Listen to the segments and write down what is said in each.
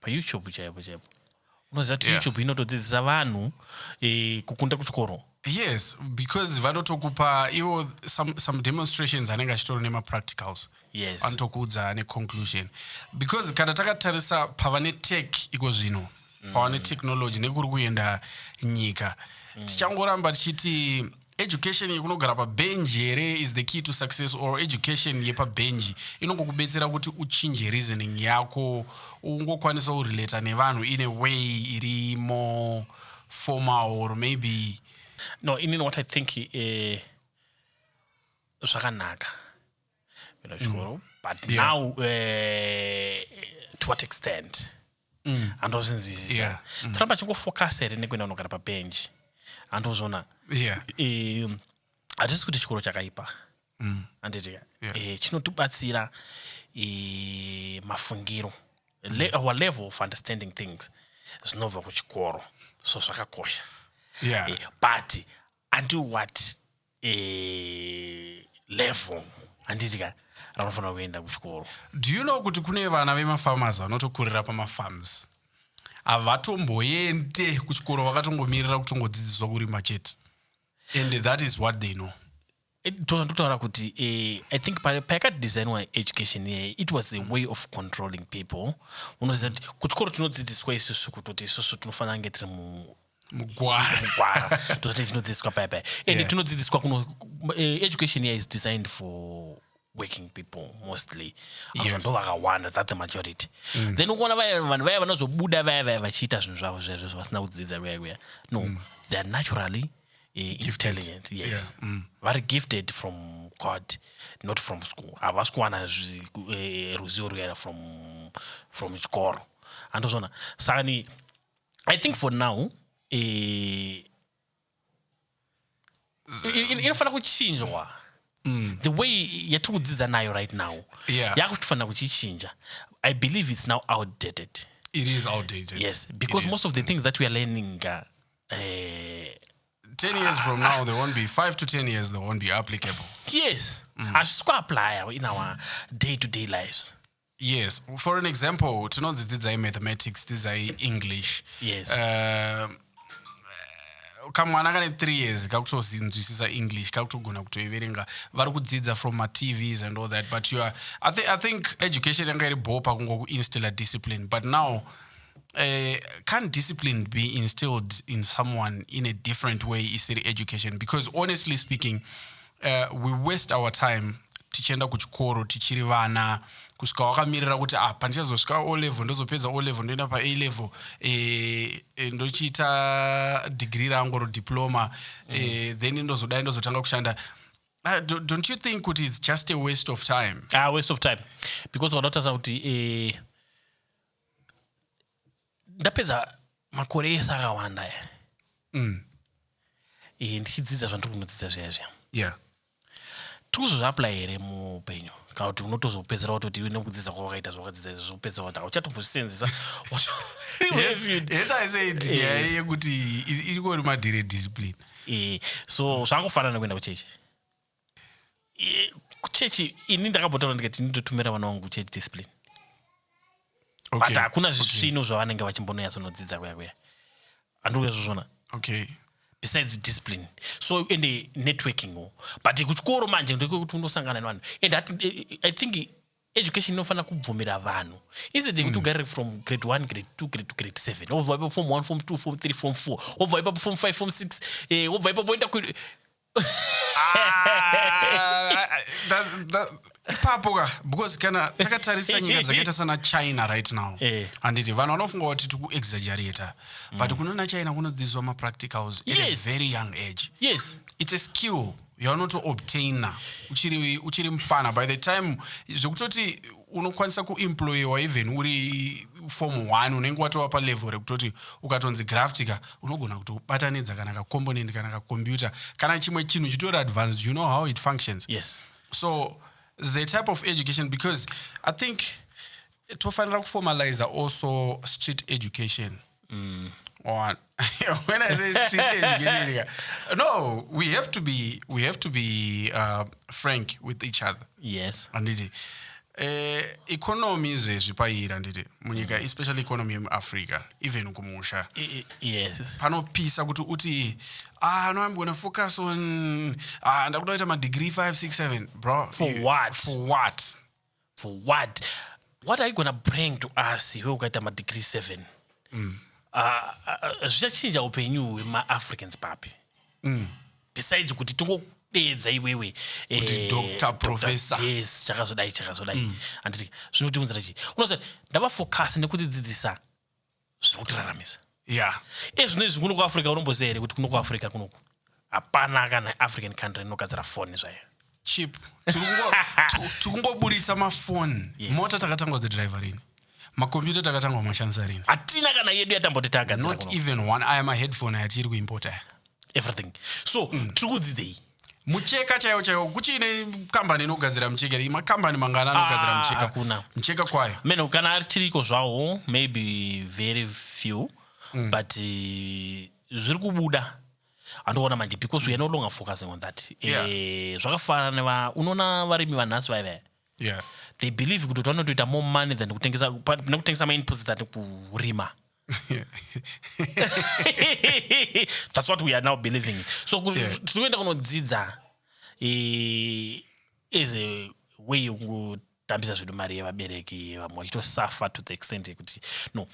payoutube chaipo chaipo unoziva kuti Yeah. youtube inotodzidzisa vanhu eh, kukunda kuchikoro yes because vanotokupa ivo some, some demonstrations anenge achitori nemapracticals yes anotokuudza neconclusion because kana takatarisa pava netech iko zvino pava netechnology nekuri kuenda nyika tichangoramba tichiti education yekunogara pabhenji here is the key to success or education yepabhenji inongokubetsera kuti uchinje reasoning yako ungokwanisa kurelata nevanhu in a way iri more formal or maybe no inini what i think eh, zvakanaka uh, kupinda kuchikoro mm. but yeah. now uh, to what extent mm. andozvinzwisisa yeah. mm. toramba chingofocus here nekuenda unogara pabenji andozviona yeah. e, hatisi kuti chikoro chakaipa mm. anditi yeah. e, chinotibatsira e, mafungiro mm. Le, our level of understanding things zvinobva kuchikoro so zvakakosha yeah. e, but until what eh, level handiti ka ranofanira kuenda kuchikoro do you know kuti kune vana vemafarmers vanotokurira pamafarms havatomboende kuchikoro vakatongomirira kutongodzidziswa kurima chete and that is what they know eh, totaura kuti eh, i think payakadesignwa education iye it was a way of controlling people unoziva kuti kuchikoro tinodzidziswa isusu kutoti isusu tinofanira nge tiri mugwara mugwara ndozvati tinodzidziswa paya paya and yeah. tinodzidziswa kuno uh, education here is designed for working people mostly yes. ndo vakawanda that the majority mm. then ukuona vaya vanhu vaya vanozobuda vaya vaya vachiita zvinhu zvavo zvezvo zvavasina kudzidza kuya kuya no mm. they are naturally eh, intelligent yes yeah. mm. vari gifted from god not from school havasi kuwana eh, ruzivo ruyana from from chikoro andozvona saka ni i think for now eh, in- in- inofanira kuchinjwa the way yatiri kudzidza nayo right now Yeah. yakutofanira kuchichinja i believe it's now outdated it is outdated yes because It is. most of the things that we are learning uh, eh, 10 years from now there won't be 5 to 10 years there won't be applicable yes hazvisi kuaplya in our day to day lives yes for an example tinonzi dzidzai mathematics dzidzai english yes. uh, kamwana kane three years kakutozinzwisisa english kakutogona kutoiverenga vari kudzidza from matvs and all that but you are, I, th I think education yanga iri bho pakungokuinstilla discipline but now uh, can't discipline be instilled in someone in a different way isiri education because honestly speaking uh, we waste our time tichienda kuchikoro tichiri vana kusvika wakamirira kuti ah, pandichazosvika o level ndozopedza o level ndoenda pa a level e, e, ndochiita digiri rangu ro diploma mm. e, then ndozodai ndozotanga kushanda Uh, do, don't you think kuti it's just a waste of time ah, waste of time because vanotarisa kuti eh, ndapedza makore ese akawanda aya Mm. eh, ndichidzidza zvandiri kunodzidza zviya zviya Yeah. tiri kuzozviapply here muupenyu kana kuti unotozopedzera watoti iwe nekudzidza kwawakaita zvawakadzidza izvi zvokupedzera wati hauchatombozvisenzesa Hence- hence I said Eh. nyaya yekuti i- iriko rimadire discipline so zvangofanana kuenda kuchechi Eh, kuchechi ini ndakabotaura ndikati nditotumira vana vangu kuchechi discipline but Okay. hakuna zvisvino zvavanenge vachimbononyatsonodzidza kuya kuya andikuya zvozvona Okay. besides discipline so ende networking wo but kuchikoro manje ndekwekuti unosangana nevanhu and hati- eh, eh, i think education inofanira kubvumira vanhu instead yekuti ugarire from grade 1 grade 2 grade 2 grade 7 wobva ipapo form 1 form 2 form 3 form 4 wobva ipapo form 5 form 6 eh, wobva ipapo woenda ku Ah, that- that- ipapo ka because kana takatarisa nyika dzakaita sana china right now Eh. handiti vanhu vanofunga kuti tikuexaggerata but kunona china kunodzidziswa mapracticals at a Yes. very young age yes it's a skill yaunotoobtaina uchiri uchiri mfana by the time zvekutoti unokwanisa kuemployewa even uri form one unenge watova palevel rekutoti ukatonzi graftika unogona kuti ubatanidza kana kacomponent kana kacomputer kana chimwe chinhu chitori advanced you know how it functions yes. so the type of education because i think tofanira kuformaliza also street education Mm, on when I say street education, no, we have to be we have to be uh, frank with each other. Yes, and it. Eh, economy izvezvi paira handiti munyika mm. especially economy yemuafrica even kumusha yes. panopisa kuti uti ah, no i'm gonna focus on ah, ndakuda kuita madegree 567 bro for what for what for what what are you gonna bring to us iwe ukaita madegree seven mm. Ah, ah, zvichachinja upenyu hwemaafricans papi mm. besides kuti tingodeedza iwewe eh, yes chakazodai chakazodai mm. anditi zvinotiunzira chii unoziva ndavafocus nekudzidzidzisa zviri kutiraramisa ya ezvino izvi kuno kuafrica unomboziva here kuti kuno kuafrica kunoku hapana kana african country inogadzira foni zvayo chip tikungoburitsa mafoni mota takatangwa dzidriver rini makombiyuta takatangwa mashandisa rini hatina kana yedu yatamboti tagadzira not even one aya maheadphone aya tiri kuimpota aya everything so mm. tiri kudzidzei mucheka chaiwo chaiwo kuchiine kambani inogadzira mucheka ri makambani mangana anogadzira ah, mucheka kuna mucheka kwayo meno kana ari tiriko zvawo maybe very few mm. but eh, zviri kubuda andoona manje because weare no longer focusing on that eh, yeah. e, zvakafanana neva unoona varimi vanhasi vaive yeah. they believe kuti vanotoita more money than kutengesa nekutengesa mainputs than kurima that's what we are now believing in. so ku- Yeah. tiri kuenda kunodzidza eh, as a way yokutambisa zvedu mari yevabereki vamwe vachitosafa to the extent yekuti no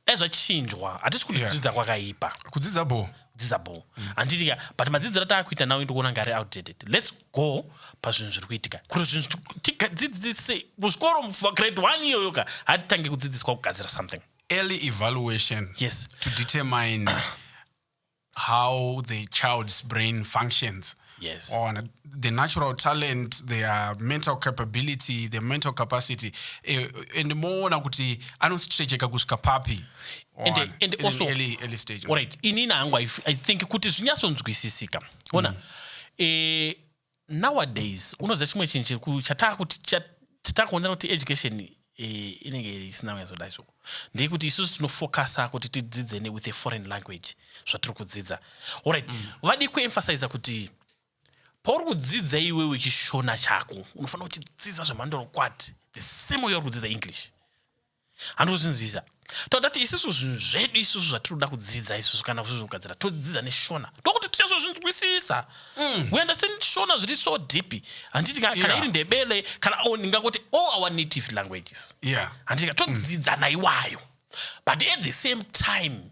dai zvachinjwa hatisi kuti Yeah. kudzidza kwakaipa kudzidza bho kudzidza bho handiti ka but madzidziro ataakuita nawo ndikuona ngari outdated let's go pazvinhu zviri kuitika kuti zvinhu tiku- tigadzidzise muzvikoro grade one iyoyo ka hatitange kudzidziswa kugadzira something early evaluation yes. to determine how the child's brain functions yes. on the natural talent their mental capability the mental capacity eh, and moona kuti anositrecheka kusvika papi and, on, and in also, early, early stage right inini hangu i think kuti zvinyatsonzwisisika ona mm. eh, Nowadays unoziva chimwe chinhu chiri ku chatakuti chatakuonera kuti education eh, inenge iri isina kunyatsodai so ndeyekuti isusu tinofokasa kuti tidzidze ne with a foreign language zvatiri kudzidza orit mm. vadi kuemphasiza kuti pauri kudzidza iwewe chishona chako unofanira kuchidzidza zvemandorokwati the same way uri kudzidza english handozvinzwisa todati isusu zvinhu zvedu isusu zvatinoda kudzidza isusu kana kuzvizvogadzira todzidza neshona ndokuti tinozozvinzwisisa mm. we understand shona zviri so deep handiti kana yeah. iri ndebele kana o ndingakoti all our native languages yeah. handiti todzidza mm. naiwayo but at the same time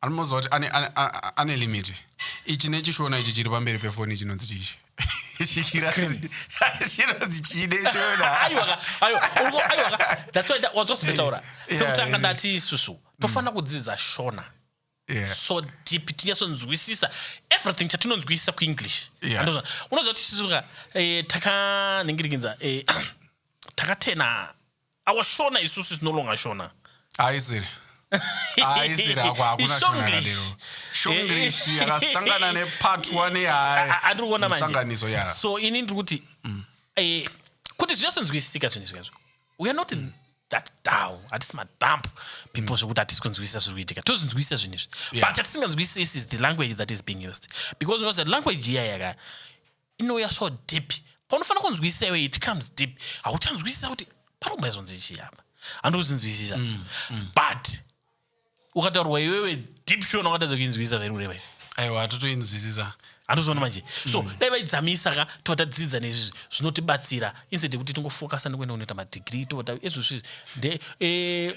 anomuudza kuti ane, ane, a- ane limit ichi nechishona ichi chiri pamberi pefoni chinonzi chichi Chikirazi- chinonzi chii neshona aiwa ka aiwa uri ku- aiwa ka that's why nda- wanzwa zvandataura Yeah, pekutanga yeah. ndati isusu tofanira kudzidza shona Yeah. so deep tinyatsonzwisisa everything chatinonzwisisa kuenglish Yeah. Andoona. unoziva kuti isusu ka eh, takaningirikinza eh, takatena Our Shona isusu is no longer Shona. Haisiri. Haisiri hako hakuna Shona Ishonglish. yakadero. Shonglish Eh, eh. yakasangana nepatwa nehayi. A- a- andiri kuona manje. Musanganiso ya. so ini ndiri kuti eh, kuti zvinyasonzwisisika zvinhu izvi kazvo we are not in that down hatisi madamp people zvekuti hatisi kunzwisisa zviri kuitika tozvinzwisisa zvinhu izvi Yeah. but chatisinganzwisisi is the language that is being used because unoziva language iya yaka inouya so deep paunofanira kunzwisisa iwe it comes deep hauchanzwisisa kuti parikumbazonzi chii apa handikuzinzwisisa mm, mm. but ukataurwa iwewe deep shona ukatadza kuinzwisisa veri kureva iwe aiwa hatotoinzwisisa handozviona manje so mm. dai vaidzamisa ka tova tadzidza nezvizvi zvinotibatsira instead yekuti tingofokasa nekuenda kunoita madigiri tova ezvozvizvi nde eh,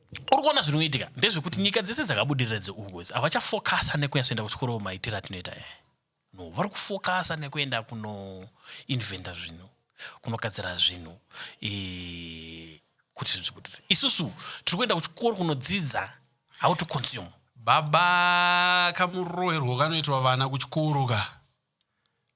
uri kuona zviri kuitika ndezvekuti nyika dzese dzakabudirira dzeuku idzi havachafokasa nekunyasoenda kuchikoro maitiro atinoita e no vari kufokasa nekuenda kunoinventa zvinhu kunogadzira zvinhu e, kuti zvinhu zvibudirire isusu tiri kuenda kuchikoro kunodzidza how to consume baba kamuroherwo kanoitwa vana kuchikoro ka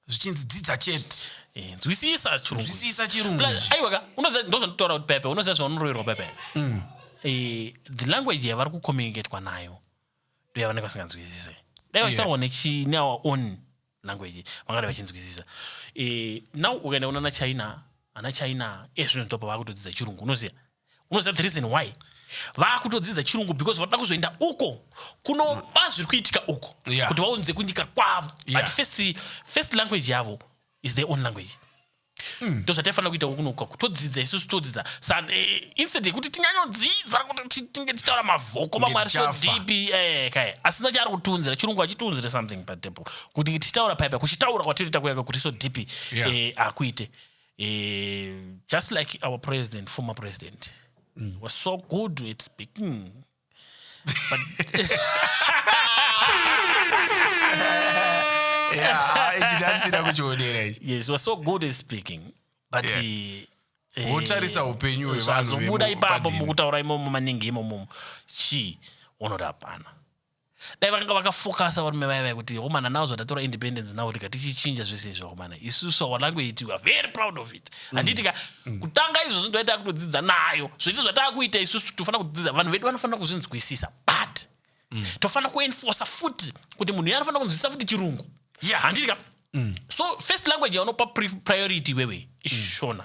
zvichinzi dzidza chete Eh, nzwisisa chirungu nzwisisa chirungu Plus, ichi. aiwa ka unoziva ndozvanditaura kuti pepe unoziva zvaunoroverwa pepe Mm. Eh, the language yavari kucommunicatwa nayo ndo yavanenge vasinganzwisise dai vachitaurwa nechi- neour own language vangadai vachinzwisisa Eh, now ukaenda kunana china ana china ezvino ndopa vakutodzidza chirungu unoziva unoziva the reason why vakutodzidza chirungu because vanoda kuzoenda uko kunoba zviri kuitika uko yeah. kuti vaunze kunyika kwavo yeah. but first, first language yavo is their own language Mm. ndozvataifanira kuita kunoka kutodzidza isusu todzidza eh, instead yekuti tinyanyodzidza kuti tinge tichitaura mavhoko mamwe ari sodipi eh, kae asina chaari kutiunzira chirungu achitiunzire something patable kuti tichitaura paipa kuchitaura kwatinoita kuyaka kuti sodipi akuite eh, Eh, just like our president, former president, mm. was so good at speaking. But yes, he was so good at speaking. But yeah. he, eh, wotarisa upenyu hwevanhu zvazobuda ipapo mukutaura imomo maningi imomo chii unorapana dai vakanga vakafokasa varume vaya vaya kuti homana now zvatatora independence now tika tichichinja zvese izvo homana isusu our language we are very proud of it mm. handiti ka mm. kutanga izvozvo ndoita kutodzidza nayo zvese zvataakuita isusu tofanira kudzidza vanhu vedu vanofanira kuzvinzwisisa but mm. tofanira kuenforsa futi kuti munhu iye anofanira kunzwisisa futi chirungu ya handiti ka so first language yaunopa priority iwewe ishona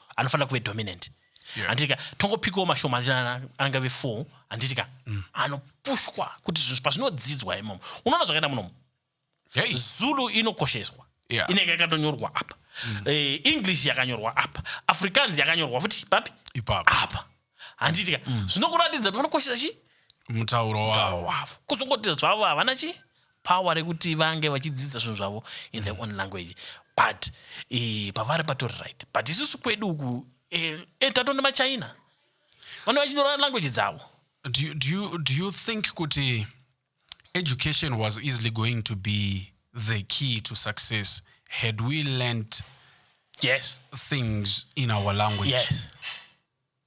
anofanira kuve dominant yeah. handitika tongopikawo mashoma anenge ave four handitika mm. anopushwa kuti zvinhu pazvinodzidzwa imomo unoona zvakaita munomo hey. zulu inokosheswa yeah. inenge yakatonyorwa apa mm. eh, english yakanyorwa apa africans yakanyorwa futi papi apa handitika mm. zvinokuratidza kuti vanokoshesa chii mutauro wavo kuzongoti zvavo havana chii power rekuti vange vachidzidza zvinhu zvavo in their own language but eh, pavari patori right but isusu kwedu uku eh, eh, tatonda machina vane vachinyora language dzavo do you, do you, do you think kuti education was easily going to be the key to success had we learnt yes things in our language yes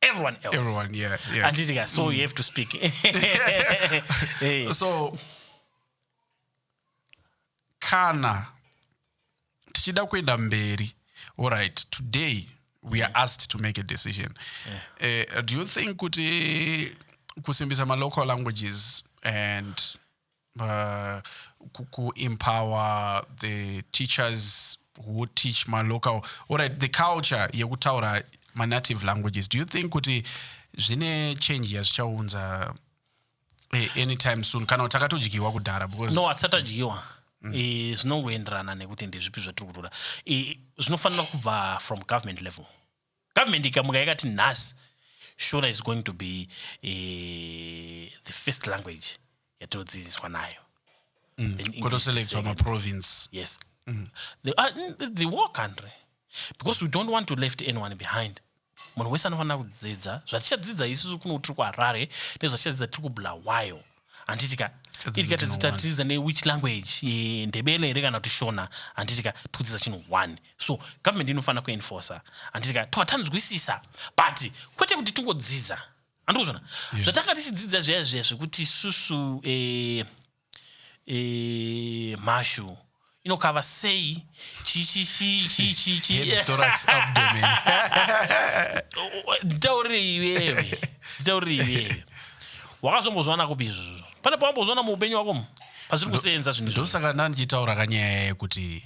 everyone else everyone yeah yeah anditi ka so you have to speak hey. so kana tichida kuenda mberi alright today we are asked to make a decision yeah. uh, do you think kuti kusimbisa malocal languages and uh, kuempower the teachers who teach malocal orit the culture yekutaura manative languages do you think kuti zvine change yazvichaunza eh, anytime soon kana takatodyiwa kudhara no hatisatadyiwa mm. eh, zvinongoenderana nekuti ndezvipi zvatiri kutoda eh, zvinofanira kubva from government level Government ikamuka yakati nhasi Shona is going to be uh, the first language yatinodzidziswa nayo mm. kotoselectwa maprovince yes mm. the, uh, the war country because we don't want to left anyone behind munhu wese anofanira kudzidza zvatichadzidza isusu kuno tiri kuharare nezvatichadzidza tiri kubulawayo handiti ka iri ka tatatiza newhich language ndebele here kana kuti shona handiti ka tikudzisa chinhu one so government inofanira kuenforcer handiti ka tova tanzwisisa but kwete kuti tingodzidza handikuzvona zvatanga tichidzidza zviya zviya zvekuti susu eh, eh, mhashu inokava sei nditaurirei iwewe nditaurirei iwewe wakazombozviwana kupi izvozvo pane pawambozviwana muupenyu wako mu pazviri kuseenza zvinhu ndosaka ndandichitaura kanyaya yekuti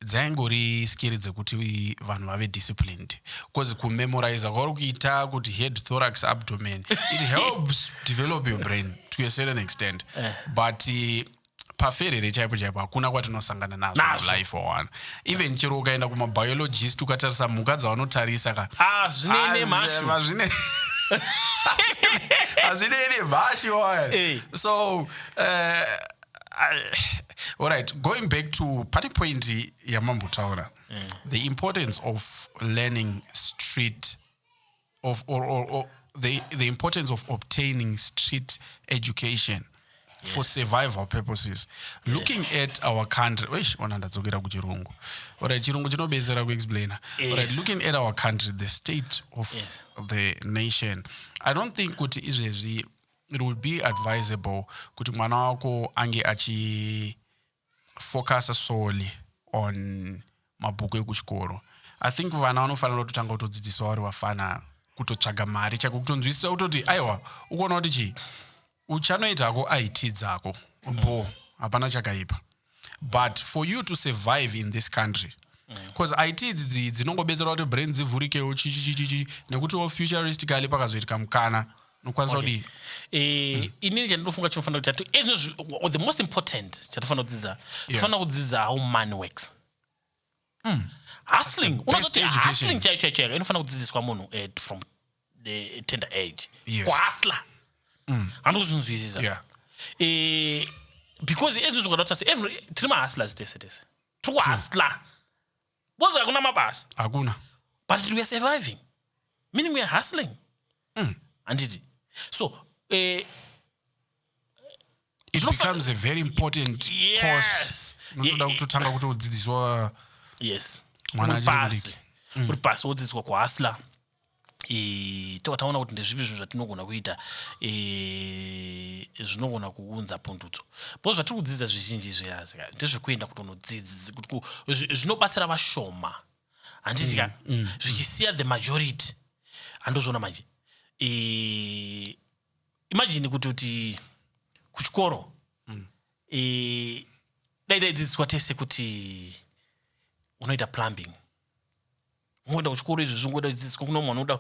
dzaingori skiri dzekuti vanhu vave disciplined bcause kumemoriza kwauri kuita kuti head thorax abdomen it helps develop your brain to a certain extent eh. but uh, paferere chaipo chaipo hakuna kwatinosangana nazvo Nazvo. mulife wawana even chero ukaenda kumabiologist ukatarisa mhuka dzavanotarisa ka Ah, zvine ine mhashu. hazvine hazvine ine mhashu waya Eh. so uh, I- alright going back to pane point yamambotaura the importance of learning street of or, or, or the, the importance of obtaining street education yes. for survival purposes yes. looking at our country eish ona ndadzokera kuchirungu orit chirungu chinobetsera kuexplaina yes. orit looking at our country the state of yes. the nation i don't think kuti izvezvi it would be advisable kuti mwana wako ange achi focuser solely on mabhuku ekuchikoro i think vana vanofanira kutotanga kutodzidziswa vari vafana kutotsvaga mari chaiko kutonzwisisa kutoti aiwa ukuona kuti chii uchanoita hako it dzako bo hapana chakaipa but for you to survive in this country bcause mm. it idzi dzinongobetsera kuti brain dzivhurikewo chichichichichi nekutiwo futuristically pakazoitika mukana nokwanisa Okay. kudii Eh, inini chandinofunga chinofanira kuti ati- ezvino zvi- the most important chatofanira kudzidza Yeah. tofanira kudzidza how money works hustling best unozoti education. hustling chaiyo chaiyo chaiyo inofanira kudzidziswa munhu eh, from the tender age Yes. kuhasla handi kuzvinzwisisa Yeah. Eh, because ezvino zvakadata se every- tiri mahustlers tese tese tiri kuhasla Because hakuna mabasa. Hakuna. But we are surviving. Meaning we are hustling. Mm. Anditi. So, eh, it becomes a very important yes. course unotoda kutotanga kutodzidziswa yes mwana achiri mudiki uri pasi wodzidziswa kuhasla e, tobva taona kuti ndezvipi zvinhu zvatinogona kuita e, zvinogona kuunza pundutso bcause zvatiri kudzidza zvizhinji zviyazi ndezvekuenda kutonodzidzi zvinobatsira vashoma handiti ka mm, mm, zvichisiya the majority handozviona manje e, imajini kuti kuti kuchikoro mm. e, dai daidzidziswa tese kuti unoita plumbing ungoenda kuchikoro izvi zvingoda dzidziswa kuna mwana unoda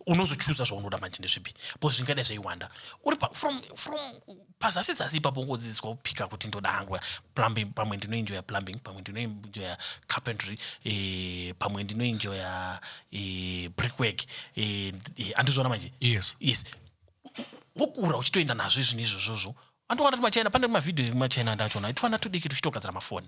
unozochuza zvaunoda manje ndezvipi bcause zvingadai zvaiwanda uri from from pazasi zasi ipapo ungodzidziswa kupika kuti ndoda hangu plumbing pamwe ndinoenjoya plumbing pamwe ndinoenjoya carpentry eh, pamwe ndinoenjoya eh, brickwork eh, eh, andizvona manje yes yes wokura uchitoenda nazvo izvinhu izvozvozvo andowana kuti machina pane mavhidhiyo ekumachaina andachona itofanira todiki tuchitogadzira mafoni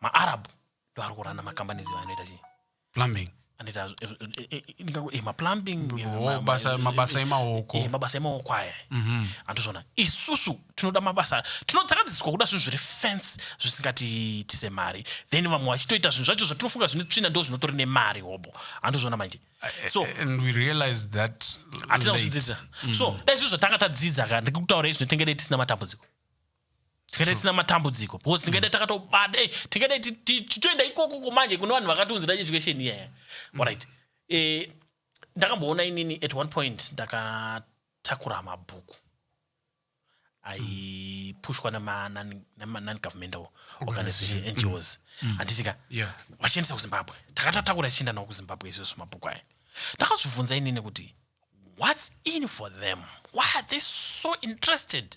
maarab ndoari kurana makambani ziva anoita chii plumbing anoita zv- zv- zv- eh, eh, ndingango- eh, maplumbing eh, Oh, ma- ma- basa- eh, mabasa eh, emaoko. eh, mabasa emaoko aya Mhm. andizvona isusu tinoda mabasa tino- takadzidziswa kuda zvinhu zviri fence zvisingatiitise mari then vamwe vachitoita zvinhu zvacho zvatinofunga zvine tsvina ndo zvinotori nemari hobho andizvona manje so and we realize that hatina late. kuzvidzidza so dai zvizvo zvatanga tadzidza ka ndikutaura izvi tinenge dai tisina matambudziko tingadai tisina matambudziko because tingadai mm. takatobata eh, tingadai tichitoenda ikokoko manje kune vanhu vakatiunzira education iyaya mm. orit eh, ndakamboona inini at one point ndakatakura mabhuku aipushwa nemanon-governmental organization ngos mm. handitika vachiendesa kuzimbabwe takatotakura tichienda navo kuzimbabwe izvozvo mabhuku aya ndakazvibvunza inini kuti whats in for them why are they so interested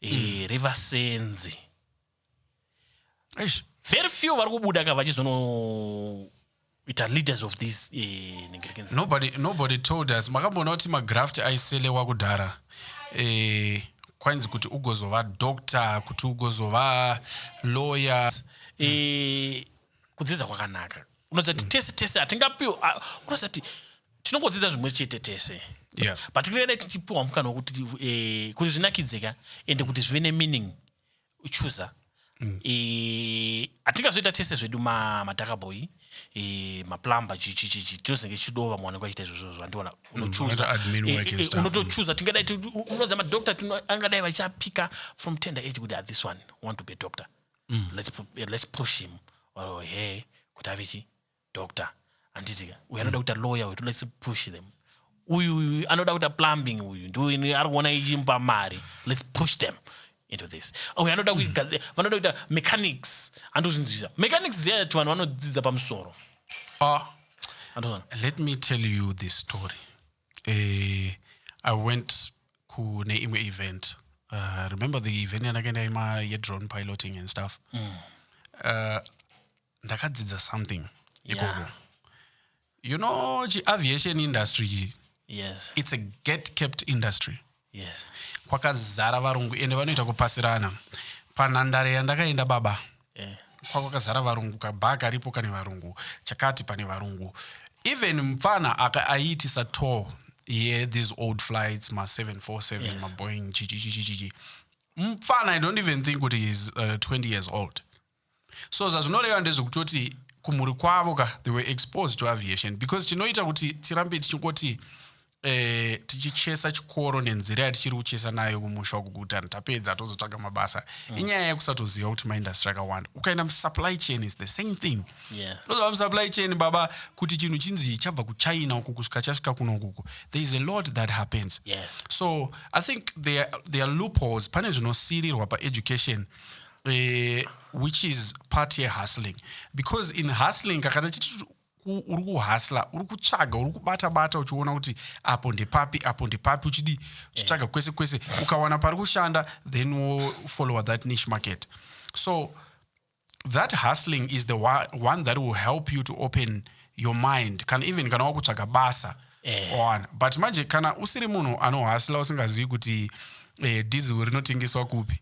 eh, mm. revasenzi Eish. very few vari kubuda ka vachizonoita leaders of this eh, Nigerians. nobody, nobody told us makamboona kuti magraft aiselewa kudhara eh, kwainzi kuti ugozova doctor kuti ugozova lawyer Eh, kudzidza kwakanaka unoziva kuti tese tese hatingapiwa ah, unoziva kuti tinongodzidza zvimwe chete tese Yeah. but tingadai tichipiwa mukana wekuti eh, kuti zvinakidze ka ende kuti zvive nemeaning uchuza Eh, hatingazoita tese zvedu ma- madhakabhoyi eh, maplumber chichichichi tinozenge tichido vamwe vanenge vachiita izvozvo zvandiona unochuza unoita admin Eh, work and eh, eh, stuff. unotochuza tingadai ti- u- unoziva madoctor tino- angadai vachapika from tender age kuti ah, this one want to be a doctor Mm. let's, pu- yeah, let's push him or her kuti ave chi doctor handitika uyu anoda kuita lawyer uyu let's push them uyu uyu anoda kuita plumbing uyu ndiuyu ari kuona ichimupa mari let's push them into this uyu anoda kuigadzi- vanoda kuita mechanics andozvinzwisa mechanics ziyati vanhu vanodzidza pamusoro Ah, Andozvona? let me tell you this story eh, i went kune imwe event uh, remember the event yandakaenda ima yedrone piloting and stuff mm. uh, ndakadzidza something ikoko yeah. you know chiaviation industry yes. it's a get kept industry Yes. Kwakazara varungu ende vanoita kupasirana. Panhandare yandakaenda baba. Yeah. Kwakazara varungu kabhaa karipo kane varungu. Chakati pane varungu. Even mfana aka aiitisa tour yeah, these old flights ma 747 yes. ma Boeing chichichichichi. Mfana I don't even think kuti he's uh, 20 years old. so zvazvinoreva ndezvekutoti kumhuri kwavo ka they were exposed to aviation because chinoita kuti tirambe tichingoti eh, tichichesa chikoro nenzira yatichiri kuchesa nayo kumusha uku kuti anhu tapedza tozotsvaga mabasa mm. inyaya yekusatoziva kuti maindastry akawanda ukaenda musupply chain is the same thing tozova yeah. musupply chain baba kuti chinhu chinzi chabva kuchina uku kusvika chasvika kuno ukuku there is a lot that happens yes. so i think there, there are loopholes pane zvinosirirwa paeducation uh, which is part yehustling because in hustling kakana chiti uri kuhasla uri kutsvaga uri kubata bata uchiona kuti apo ndepapi apo ndepapi uchidi eh. uchitsvaga kwese kwese ukawana pari kushanda then wofollower that niche market so that hustling is the one that will help you to open your mind kana even kana wakutsvaga basa eh. oana but manje kana usiri munhu anohasila usingazivi kuti eh, diesel rinotengeswa kupi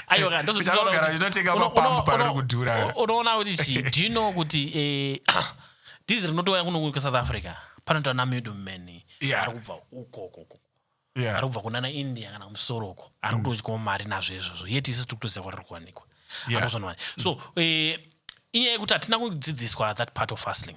aiwaaogara rinotenga mapambu pariri kudhura unoona kuti chi do you know kuti eh, diesel rinotouya kuno kusouth africa panoita namiddle man yeah. ari kubva ukokoko yeah. ari kubva kunana india kana kumusoro uko ari mm. kutodyawo mari nazvo izvozvo yeti isu tiri kutoziva kwariri kuwanikwa yeah. so mm. eh, inyaya yekuti hatina kudzidziswa that part of fastling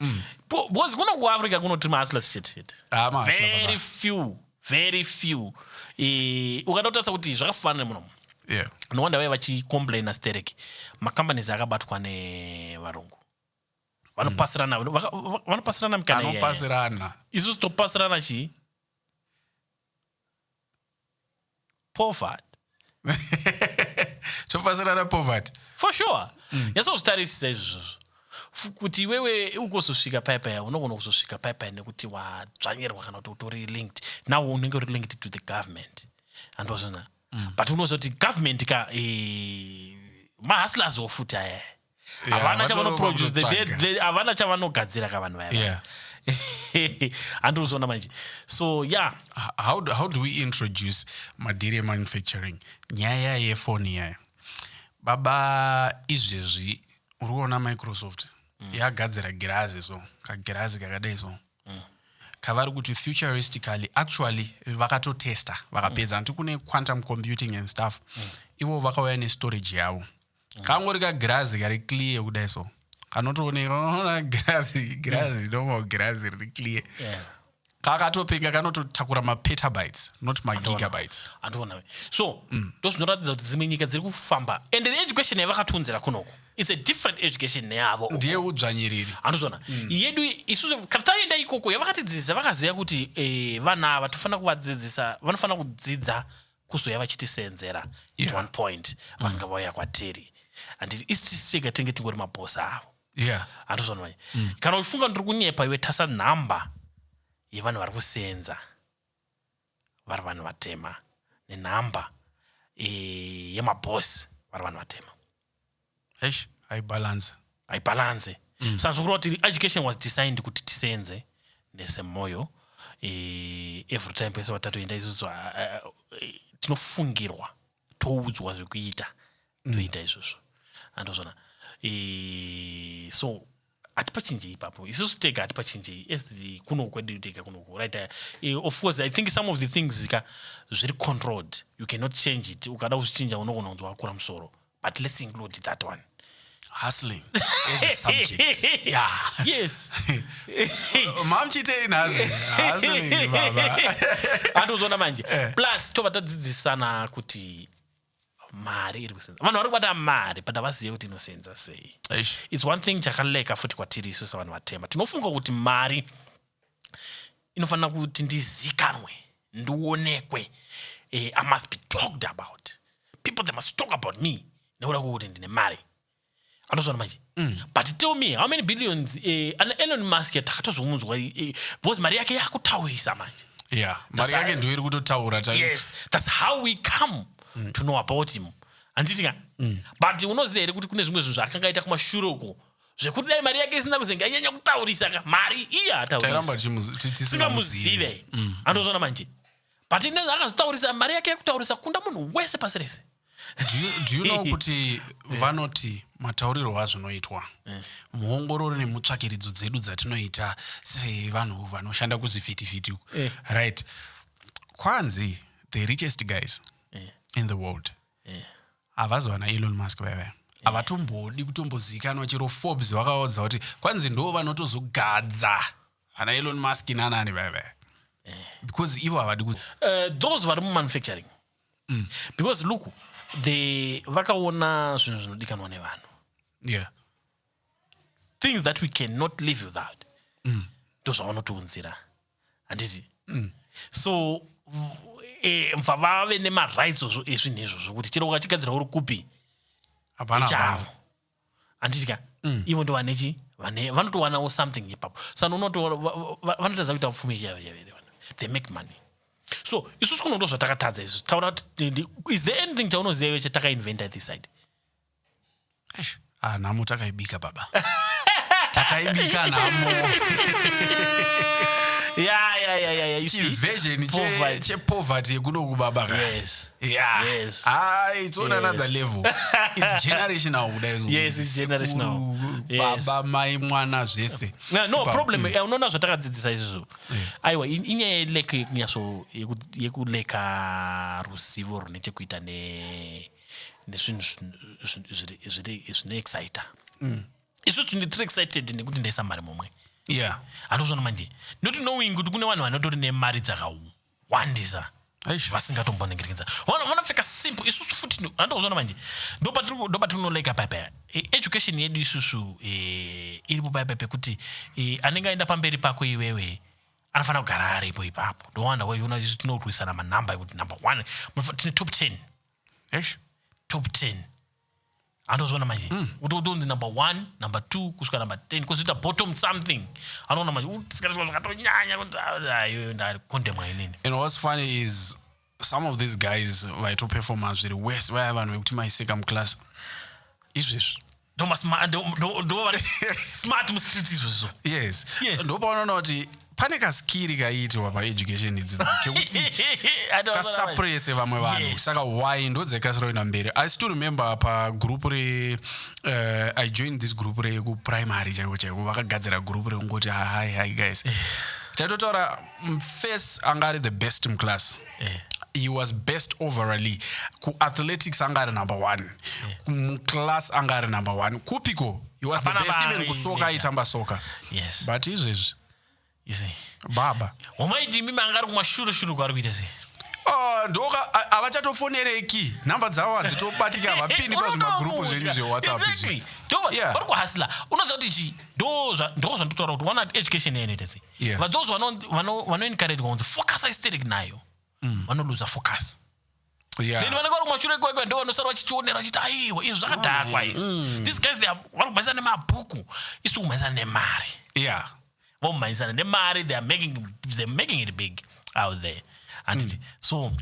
mm. because kuno kuafrica kunoti mahustlers chete chete ah, very few very few e, ukada kutarisa kuti zvakafanana muno yeah. no wonder vaye vachicomplaina sterek macompanies akabatwa nevarungu vanopasirana vanopasirana mikana isusu topasirana chii Poverty. topasirana poverty for sure mm. nyasozvitarisisa izvozvo kuti iwewe ukuzosvika pai pai unogona kuzosvika pai pai nekuti wadzvanyirwa kana kuti utori linked now unenge uri linked to the government andozvona mm. but unozoti government ka e, eh, mahustlers wo futi aya Yeah, havana vatorova chavanoproduce the- the- kutotsvaga. the- havana chavanogadzira ka vanhu vaya Yeah. handiri kuzoona manje so yeah H- how do, how do we introduce madhiri emanufacturing nyaya yefoni yaya baba izvezvi uri kuona microsoft yagadzira girazi so kagirazi kakadai so kavari kuti futuristically actually vakatotesta vakapedza hanti kune quantum computing and stuff ivo vakauya nestorage yavo mm. kangori kagirazi kari clear kudai so kanotooneka unoona girazi girazi mm. normal girazi riri clear yeah kakatopenga kanototakura mapetabytes not magigabytes andiona so mm. ndozvinoratidza kuti dzimwe nyika dziri kufamba and the education yavakatiunzira kunoko its a different education neyavo ndiye udzvanyiriri andozvona mm. yedu isusu kana taenda ikoko yavakatidzidzisa vakaziva kuti eh, vana ava tofanira kuvadzidzisa vanofanira kudzidza kuzouya vachitisenzera at one point vanga vauya kwatiri handiti isu tisu tega tinge tingori mabhosi avo yeah handozvanimanya kana uchifunga ndiri kunyepa iwe tasa nhamba yevanhu vari kusenza vari vanhu vatema nenhamba eh, yemabhosi vari vanhu vatema eish haibalance haibalance mm. saka zvokureva kuti education was designed kuti tisenze nesemoyo e, every time pese vatatoenda isusu uh, uh, tinofungirwa toudzwa zvekuita mm. toita izvozvo andozvona e, so hatipachinjei ipapo isusu tega hatipachinjei as the kuno kwedu tega kunoku right uh, of course i think some of the things ka zviri controlled you cannot change it ukada kuzvichinja unogona kunzi wakura musoro but let's include that one hustling as a subject yeah yes mamchitei nhasi hustling baba atozoona manje eh. plus tova tadzidzisana kuti mari iri kusenza vanhu vari kubata mari but havazive kuti inosenza sei Eish. its one thing chakaleka futi kwatiri isu sevanhu vatema tinofunga kuti mari inofanira kuti ndizikanwe ndionekwe eh, i must be talked about people they must talk about me nekuda kwekuti ndine mari anotozvana manje mm. but tell me how many billions eh, ana elon musk takatozomunzwa eh, eh, because mari yake yakutaurisa manje yeah mari yake ndiyo iri kutotaura yes that's how we come mm. to know about him handiti ka mm. but unoziva here kuti kune zvimwe zvinhu zvaakanga aita kumashure uko zvekuti dai mari yake isina kuzenge anyanya kutaurisa ka mari iya ataurisasingamuzive mm. anozvona manje but ine akazotaurisa mari yake yekutaurisa kunda munhu wese pasi rese Do you, do you know kuti vanoti mataurirwo azvinoitwa muongororo nemutsvakiridzo dzedu dzatinoita sevanhu vanoshanda kuzvivhitivhiti uku Eh. right kwanzi the richest guys Eh. in the world Eh. havazi vana elon musk vaive havatombodi kutombozivikanwa chero forbes vakaudza kuti kwanzi ndo vanotozogadza ana elon musk nanani vaya vaya because ivo havadi ku uh, those vari mumanufacturing mm. because look the vakaona zvinhu zvinodikanwa nevanhu yeah. things that we cannot live without mm. ndozvavanotiunzira handiti mm. so eh, mva vave nemarights ezvinhu izvozvo kuti chero ukachigadzira uri kupi hapana chavo handiti ka mm. ivo ndo vane chi vane vanotowanawo something ipapo sano unoto vanotadza kuita pfumi yavere they make money so isusu kuno ndo zvatakatadza isusu taura kuti is there anything chaunoziva iwe chatakainventa this side ah, nhamo takaibika baba takaibika nhamo yeah, yeah, yeah, yeah, yeah. chiversion chepoverty yekuno kubaba yes. Yeah. Yes. Ah, it's on Yes. another level. It's generational kudai izvo. Yes, it's generational. Sekuru, Yes. Baba, mai, mwana zvese. no, no Ipapo, problem mm. eh, unoona zvatakadzidzisa izvozvo aiwa in- inyaya yelek yekunyaso yeku- yekuleka ruzivo rune chekuita ne- nezvinhu zvin- zvin- zviri- zviri- zvinoexcita Mm. isu tindi tiri excited nekuti ndaisa mari momwe Yeah. handozvona manje not knowing kuti kune vanhu vanotori nemari dzakawanda vakawandisa vasingatomboningirikidza vanopfeka simple isusu futi andozvona manje ndopatinonoleka paipa e, education yedu isusu e, iripo paipa pekuti e, anenge aenda pamberi pako iwewe anofanira kugara aripo ipapo ndowanda waiona isu tinorwisana manhamba ekuti number one tine top ten top ten anotozviona manje mm. utonzi number one number two kusvika number ten kozoita bottom something anoona manje utisikaizwa zvakatonyanya kuti ayo ah, ndakondemwa inini and what's funny is some of these guys vaitoperforma zviri wese vaya vanhu vekuti maiseka muclass izvezvi ndo vari smart mustreet izvozvo yes, yes. ndopaunoona kuti pane kaskiri kaiitwa paeducation idzi kekuti kasaprese vamwe vanhu saka why ndodzekasira kuenda mberi i still remember pagroup re uh, i joined this group rekuprimary chaiko chaiko vakagadzira group rekungoti hi hi guys taitotaura face anga ari the best muclass eh. he was best overally kuathletics anga ari number one eh. muclass anga ari number one kupiko he was the best even kusoka aitamba soka yes. but izvezvi baba homaidimi manga ari kumashure shure kwaari kuita sei Ah, ndoka havachatofonereki nhamba dzavo hadzitobatika havapindi pazvimagrupu zvenyu zvewhatsappvari kuhasla unoziva kuti chii ndo zvandotaura kuti one education yanoita sei Yeah. but those vano- vano- vanoencouragwa kunzi focus aesthetic nayo vanoluza focus Yeah. then vanenge vari kumashure kwekwe ndo vanosara vachichionera vachiti aiwa izvi zvakadhakwa izvi these guys they are- vari kumhanyisana nemabhuku isi kumhanyisana nemari Yeah. vomhanyisana nemari they are making, they are making it big out there handiti mm. so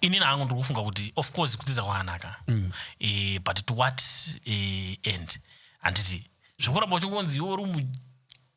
inini hangu ndiri kufunga kuti of course kudzidza kwakanaka mm. e, but to what e, end handiti zvekuramba uchingonzi iwe uri mu-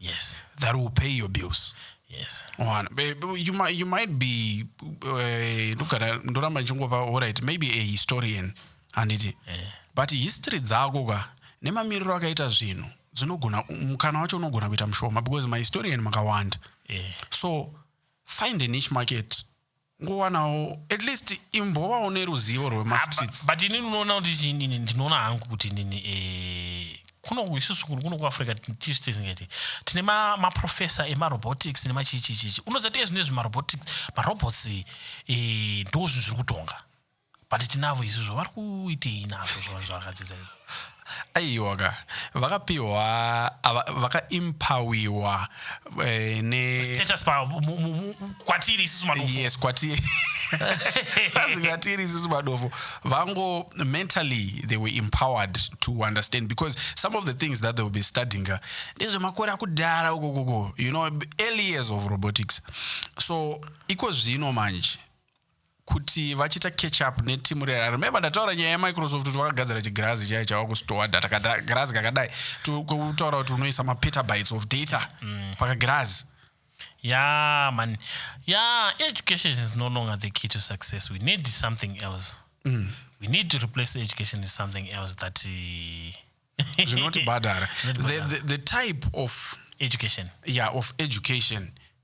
yes that will pay your bills yes one you might, you might be eh, ndogara uh, ndoramba ndichingova alright maybe a historian handiti yeah. but history dzako ka nemamiriro akaita zvinhu dzinogona mukana wacho unogona kuita mushoma because mahistorian makawanda yeah. so find a niche market ngowanawo at least imbovawo neruzivo rwemastreets but inini unoona kuti chinini ndinoona hangu kuti nini eh, kuno isusu kuno kuno kuafrica tisu tisingati tine maprofessor ma emarobotics nemachichichichi unoziva tiye zvine zvemarobotics marobots eh, ndo zvinhu zviri kutonga But tinavo izvozvo vari kuitei nazvo zvavanhu zvavakadzidza izvo. aiwa ka vakapiwa ava- vakaimpawiwa eh, ne Status pa mu- mu- mu- kwatiri isusu madofo. yes kwati That's kwatiri isusu madofo vango mentally they were empowered to understand because some of the things that they will be studying uh, ndezvemakore akudhara uko koko you know early years of robotics so iko zvino manje kuti vachiita catch up netimu rera remembe ndataura nyaya yemicrosoft kuti vakagadzira chigirazi chaiye chava kustowa data kagirazi kakadai kutaura kuti unoisa mapetabytes of data mm. pakagirazi yeah man yeah education is no longer the key to success we need something else mm. we need to replace education with something else that uh, zvinotibhadhara the, the, the type of education yeah of education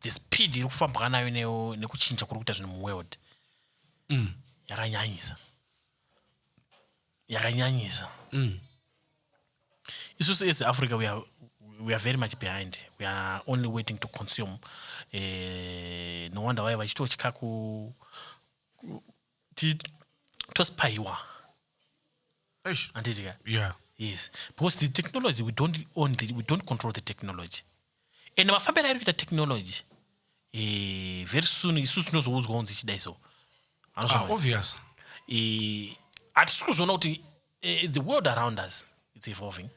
the speed iri kufambwa nayo ne- nekuchinja kuri kuita zvinhu muworld Mm. yakanyanyisa yakanyanyisa Mm. isusu as africa we are, we are very much behind we are only waiting to consume eh, no wonder why vachitotya ku ku- ti- tospaiwa Eish. handiti ka Yeah. yes because the technology we don't own the, we don't control the technology and mafambiro airi kuita technology eh, very soon isusu tinozoudzwa kunzi chidai so Ah, Anozvama- obvious. eh, hatisi kuzviona kuti eh, the world around us its evolving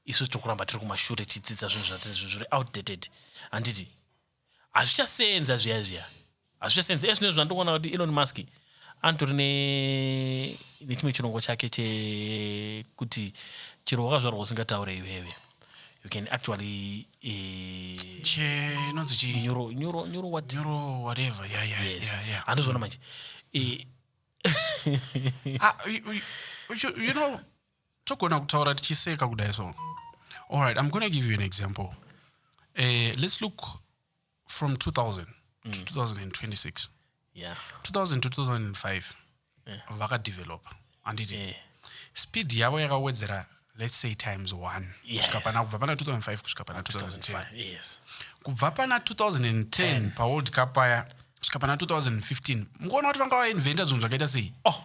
isu tiri kuramba tiri kumashure tichidzidza zvinhu zvati- zviri outdated handiti hazvichasenza zviya zviya hazvichasenza ezvino izvo zvandokuona kuti elon musk anotori nechimwe chirongwa chake chekuti chero wakazvarwa usingataure iwewe you can actually inonzi eh, chinyurowateverandozviona manje eh, ah, you know togona kutaura tichiseka kudai so allright im gona give you an example uh, let's look from 2000 mm. to 2026 yeah. 2000 to 2005 yeah. vakadevelopa handiti yeah. speed yavo yakawedzera let's say times one kusvika yes. pana kubva pana 2005 kusvika pana 2010 yes. kubva pana 2010 paworld cup paya kusvika pana 2015 mukuona kuti vanga vainventa zvinhu zvakaita sei oh.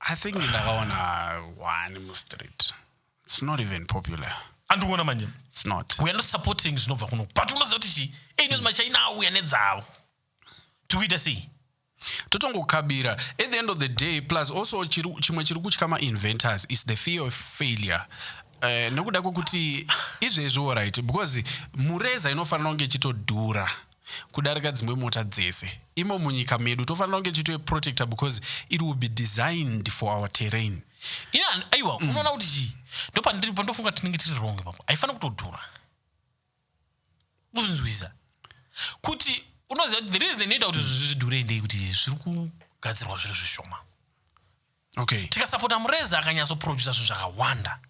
i think ndakaona one mustreet it's not even popular andikuona manje it's not we are not supporting zvinobva kuno but unoziva kuti chii einos machina auya nedzavo tikuita sei totongokabira at the end of the day plus also chimwe chiri kutya mainventors is the fear of failure uh, nekuda kwekuti izvezviwo right because mureza inofanira kunge ichitodhura kudarika dzimwe mota dzese imo munyika medu tofanira kunge tichitoe protector because it will be designed for our terrain ini aiwa mm. unoona kuti chii ndopandiri pandofunga tinenge tiri wrong ipapo haifanira kutodhura kuzvinzwisisa kuti unoziva kuti the reason inoita kuti zvidhurei ndei kuti zviri kugadzirwa zviri zvishoma okay tikasapota mureza akanyatsoprodusa zvinhu zvakawanda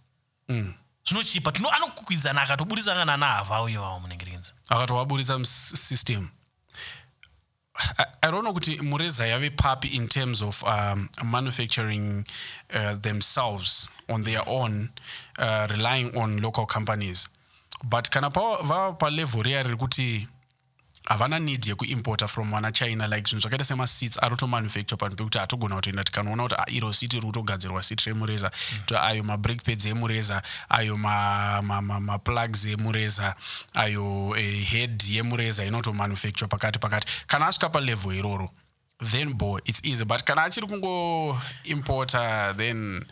Mm. zvinochipa tino anokwikwidzana akatoburitsa kana ana hava uye vava munengerenzi akatovaburitsa musystem I, I don't know kuti mureza yave papi in terms of um, manufacturing uh, themselves on their own uh, relying on local companies but kana pa- vava palevel riya riri kuti Havana need yeku importer from wana China like zvinhu zvakaita sema seats aroto manufacture panhu pekuti hatogona kutoenda tikanoona kuti ah, iro seat ririkutogadzirwa seat remureza to ayo ma brake pads emureza ayo ma, ma, ma, ma plugs emureza ayo eh, head yemureza inoto manufacture pakati pakati kana asvika pa level iroro then bo it's easy but kana achiri kungo importer then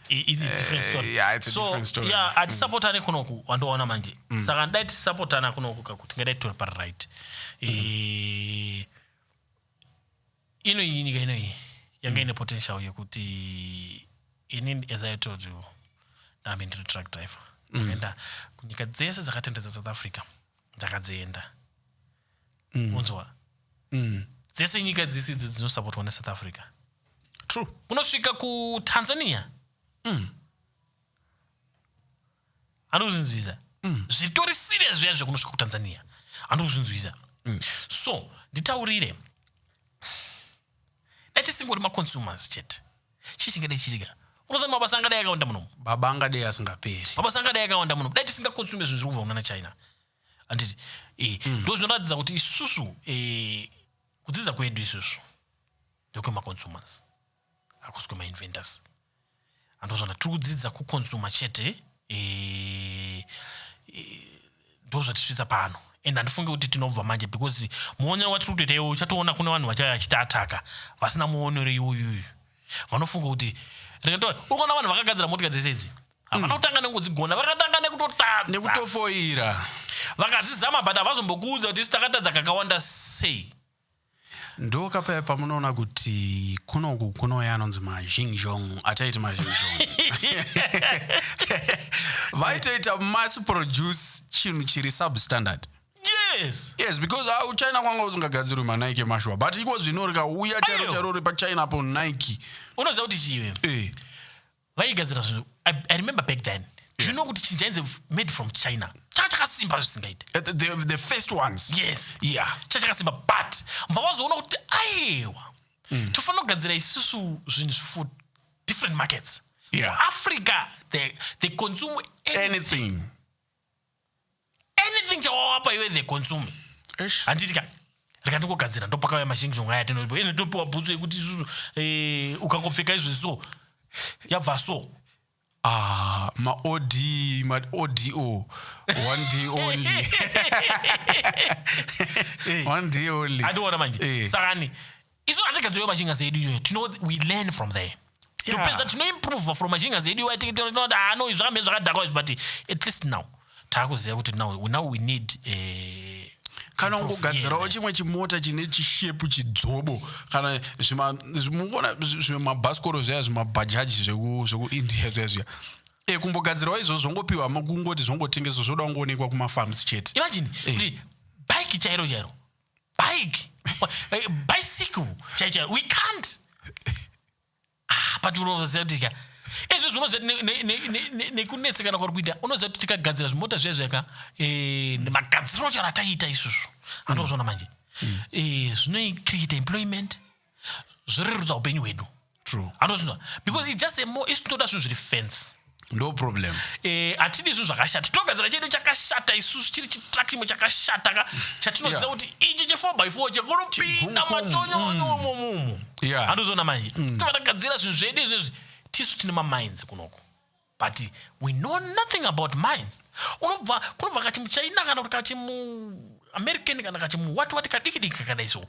it's a different eh, story. Uh, yeah, it's a so, different story. Yeah, mm. atisapotane kunoku wandoona manje mm. saka ndai tisapotana kunoku kakuti ngadai tori pari right mm. e, ino iyi nyika ino iyi yanga mm. ine potential yekuti ini as i told you ndambe ndiri truck driver mm. enda kunyika dzese dzakatenderedza south africa ndakadzienda unzwa dzese nyika dzese idzo dzinosapotwa nesouth africa true kunosvika kutanzania mm. anozvinzwiza mm. zvitori serious zviya zvekunosvika kutanzania anozvinzwiza mm. so nditaurire dai tisingori maconsumers chete chii chingadai chirika unoziva mabasa angadai akawanda munomu baba angadai asingaperi mabasa angadai akawanda munomu dai tisingakonsume zvinhu zviri kubva kunana china handiti eh, hmm. ndo zvinoratidza kuti isusu eh, kudzidza kwedu isusu ndekwemaconsumers hakusi kwemainventors andozvana tiri kudzidza kuconsuma chete eh, ndozvatisvitsa pano and handifunge kuti tinobva manje because muonero watiri kutoita iwo uchatoona kune vanhu vachaya achiti ataka vasina muonero iwoyuyu vanofunga kuti rega ukaona vanhu vakagadzira motika dzese idzi havana kutanga nekudzigona vakatanga nekutotadza nekutofoira vakazizama but havazombokuudza kuti isu takatadza kakawanda sei ndokapaya pamunoona kuti kunoku kunouya anonzi mazhingzhong ataiti mazhingzhong vaitoita mass produce chinhu chiri substandard yes yes because ah, uchina kwanga usingagadzirwi manike emashuwa but iko zvino rikauya charo charo uri pachina apo nike unoziva kuti chive eh. vaigadzira zvinhu I, i remember back then do you know kuti chinhu chainzi made from china changa chakasimba zvisingaite Uh, the, the, the first ones yes yeah changa chakasimba but mva wazoona kuti aiwa tofanira kugadzira isusu zvinhu for different markets Yeah. africa they, they consume anything anything anything chawawapa iwe the consume handiti ka rika ndikugadzira ndopakauya mashingishongo aya tinoipo ende topiwa bhutsu yekuti isusu eh, ukangopfeka izvi so yabva so Ah, ma od ma odo one day only one day only andiona manje Eh. saka ni isu hatigadzirwe machinganzi edu iyoyo tino we learn from there Yeah. topedza tinoimprova from machinganzi edu iwayo tinoti ano zvakamira zvakadhakwa izvi but at least now taakuziva kuti now, we- now we need eh, kana improve ungogadzirawo here. chimwe chimota chine chishepu chidzobo kana zvima- zvi- mukuona zvi- zvimwe mabhasikoro zviya zvimabhajaji zveku- zvekuindia zviya zviya e kumbogadzirawo izvozvo zvongopiwa ma- kungoti zvongotengeswa zvoda kungoonekwa kumafarms chete imagine Eh. kuti bike chairo chairo bike eh, bicycle chaichai we can't ah, but unoziva kuti ka ezvo zvinoziva nekunetsekana kwari kuita unoziva kuti tikagadzira zvimota zviya zviyaka eh, magadziro charo ataiita isusu andozvona manje mm. eh, zvinoicreate employment zvorerutsa upenyu hwedu true anozvinzwa because it's just a more isu tinoda zvinhu zviri fence ndo problem eh atidi zvinhu zvakashata togadzira chedu chakashata isusu chiri chitrack chimwe chakashata ka chatinoziva Yeah. kuti ichi che 4 by 4 chekunopinda Chiguku, matonyono momumu Yeah. andozoona manje tinoda kugadzira zvinhu zvedu izvezvi tisu tine maminds kunoko But we know nothing about mines. Unobva kunobva kachimuchina kana kuti kachimu American kana kachimu what what kadiki diki kakadai so.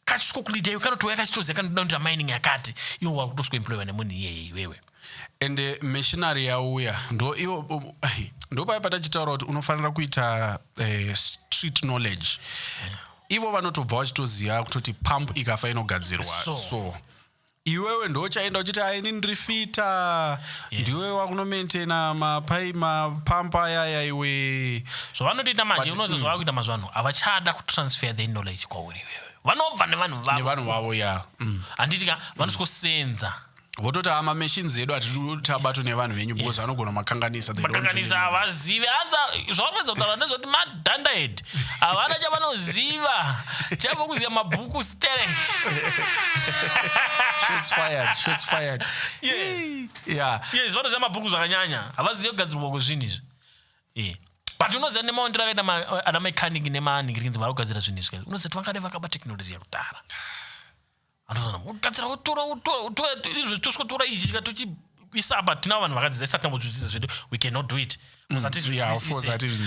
Kachisiko kulida iwe kanotouya kachitoziva kanoda kuti mining yakati. Iwe wakutoswa employer nemunhu iyeye iwewe. And uh, missionary yauya ndo iwo um, ndo paya patachitaura kuti unofanira kuita uh, street knowledge. Ivo vanotobva vachitoziva kutoti pump ikafa inogadzirwa so. so. iwewe ndochaenda uchiti a ini ndiri fita yes. ndiwe wakunomaintaina mapai mapampa ayaya iwe zvavanotoita manje unozo mm. zvavakuita mazuva ano havachada kutransfer the knowledge kwauri iwewe vanobva nevanhu vavonevanhu vavo ya mm. handiti ka vanosikosenza mm vototi a ah, mamachines edu hatiti abatwe nevanhu venyu because anogona makanganisa makanganisa havazivi hanza zvaunodza kutaura ndezvoti Dandahead havana chavanoziva chavo kuziva mabhuku sterek Shots fired, shots fired. Yeah. Yeah. yes vanoziva mabhuku zvakanyanya havazive kugadzirwa kwezvinhu izvi Eh. but unoziva nemaondero akaita ma- ana mechanic nemanigirikinzi vari kugadzira zvinhu izvi unoziva kuti vangade vakaba teknoloji yakudhara anotozana kugadzira wotora wotora wotora izvo tosvotora ichi chika tochiisa apa tinawo vanhu vakadzidza isati tambozvidzidza zvedu we cannot do it Mm, yeah, of course, I didn't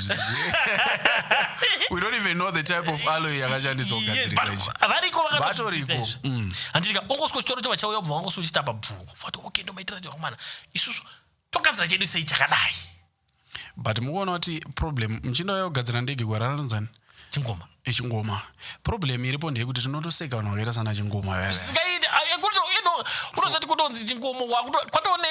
we don't even know the type of alloy yakashandiswa kugadzirisa ichi variko vakatoriko mm. handitika ongoswa chitoro chava chauya bva wangoswa uchitapa bvungu vati okay ndomaitira chakomana isusu togadzira chedu sei chakadai but mukuona kuti problem muchinda uya kugadzira ndege gwara ranonzani chingoma echingoma eh, problem iripo ndeyekuti tinotoseka vanhu vakaita sana chingoma unozati kutonzi chingoma kwatone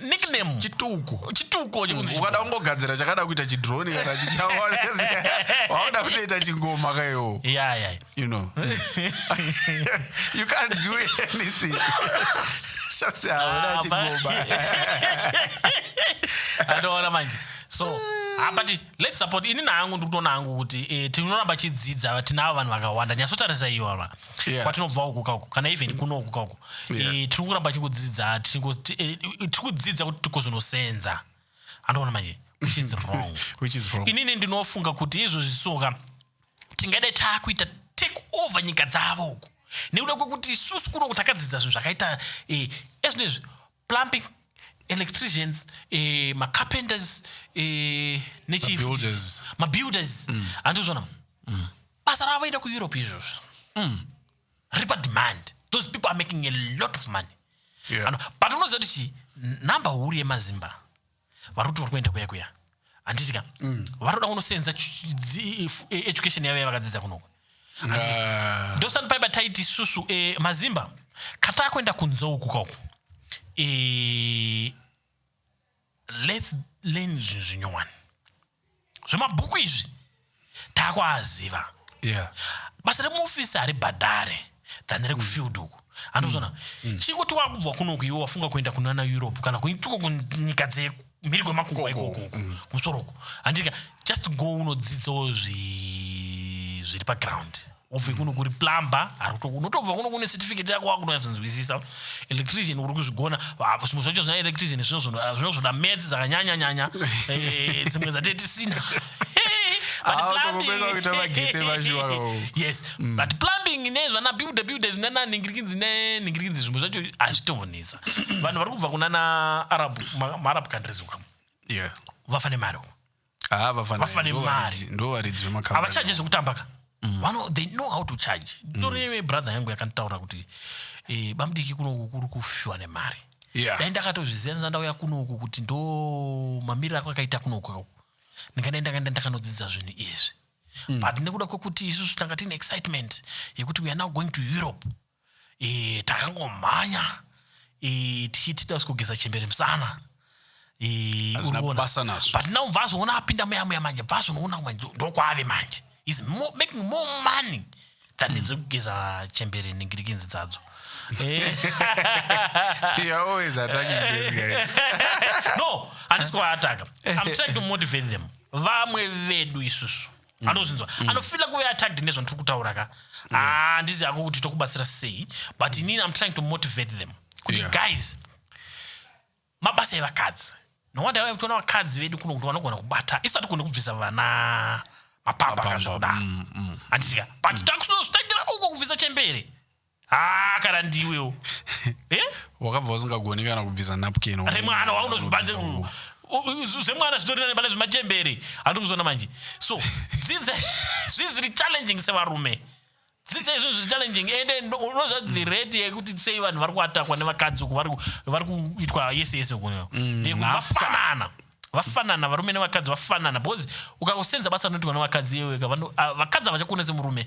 nickname chituko chituko mm, ukada kungogadzira chakada kuita chidroni kana chichawakuda kutoita chingoma kayo you know you can't do anything Shasta hauna Ah, chingoma. andoona manje so ah, but let's support ini naangu ndikutoona hangu kuti eh, tinoramba chidzidza tinavo vanhu vakawanda nyatsotarisa iyo ava Yeah. kwatinobva uku kauku kana even kuno uku kauku Yeah. Eh, tiri kuramba chikudzidza tikudzidza kuti tikozonosenza andoona manje which is wrong Which is wrong. inini ndinofunga kuti izvozvi soka tingadai taakuita take over nyika dzavo uku nekuda kwekuti isusu kuno takadzidza zvinhu zvakaita eh, ezvino izvi plumping electricians eh, macarpenters eh, nechimabuilders mabuilders mm. andizvona mm. basa ravo enda kueurope izvozvo mm. ripa demand those people are making a lot of money yeah. but unoziva kuti chii number huru yemazimba vari kuti vari kuenda kuya kuya handiti ka mm. varoda kunoseenza e, education yavo yavakadzidza kunoko ah. ndosani paiba taiti susu e, mazimba kataa kuenda kunzou kukauku e, lets learn zvinhu zvinyowani zvemabhuku izvi takuaziva yeah. basa remuofisi haribhadhare than rekufield uku andozvona mm. mm. chikuti wakubva kunoku iwe wafunga kuenda kunana europe kana kuituko kunyika dzemhiri kwemakungwa ikoko mm. kumusoro uku handika just go unodzidzawo zviri paground obve kuno kuri plumber unotobva kuno kune certificate yako wakunyatsonzwisisa electrician uri kuzvigona zvimwe zvacho zvina electrician zvinozvoda mats dzakanyanyanyanya eh, dzimwe dzatee tisina yes mm. but plumbing nezvana builder builder zvinana nhingirikidzi nenhingirikidzi zvimwe zvacho hazvitombonetsa vanhu vari kubva kunana arab maarab countries uka vafa nemari uko Ah, vafana Vafana ndivo mari. varidzi- ndivo varidzi vemakambani. havachaje zvekutamba ka vano they know how to charge tori brother yangu yakanditaura kuti eh, bamdiki kunoku kuri kufishwa nemari Yeah. dai ndakatozviziva ndisati ndauya kunoku kuti ndo mamiriro ako akaita kunoku ako ndingadai ndakaenda ndakanodzidza zvinhu izvi but nekuda kwekuti isusu tanga tiine excitement yekuti we are now going to europe e, takangomhanya e, tichiti tausi kugeza chembere musana e, but now bvazoona apinda muya muya manje bvazonoona manje ndokwaave manje is more, making more money than mm. dzekugeza chembere nengirikinzi dzadzo eh. no handisi kuvaataka i'm trying to motivate them vamwe vedu isusu mm. anozvinzwa mm. anofila kuve attacked nezvandiri kutaura ka mm. handizi ah, hako kuti tokubatsira sei but mm. inini am trying to motivate them kuti yeah. guys mabasa evakadzi nowanda vave kutiona vakadzi vedu kuno kuti vanogona kubata isu hatigone kubvisa vana mapamba kazvakudaro mm, mm. handitika but mm. takutozotangira uko kubvisa chembere haa kana ndiwewo eh? wakabva usingagoni kana kubvisa napkin remwana waunozvibande zvemwana zvitorina nebana zvemachembere handiri kuzona manje so dzidza zvinhu zviri challenging sevarume dzidza izvinhu zviri challenging ende unozva the rate yekuti sei vanhu vari kuatakwa nevakadzi uku vari kuitwa yese yese kuyo mm, vafanana vafanana varume nevakadzi vafanana because ukakusenza basa rinoitwa nevakadzi iyeweka vakadzi havachakuone semurume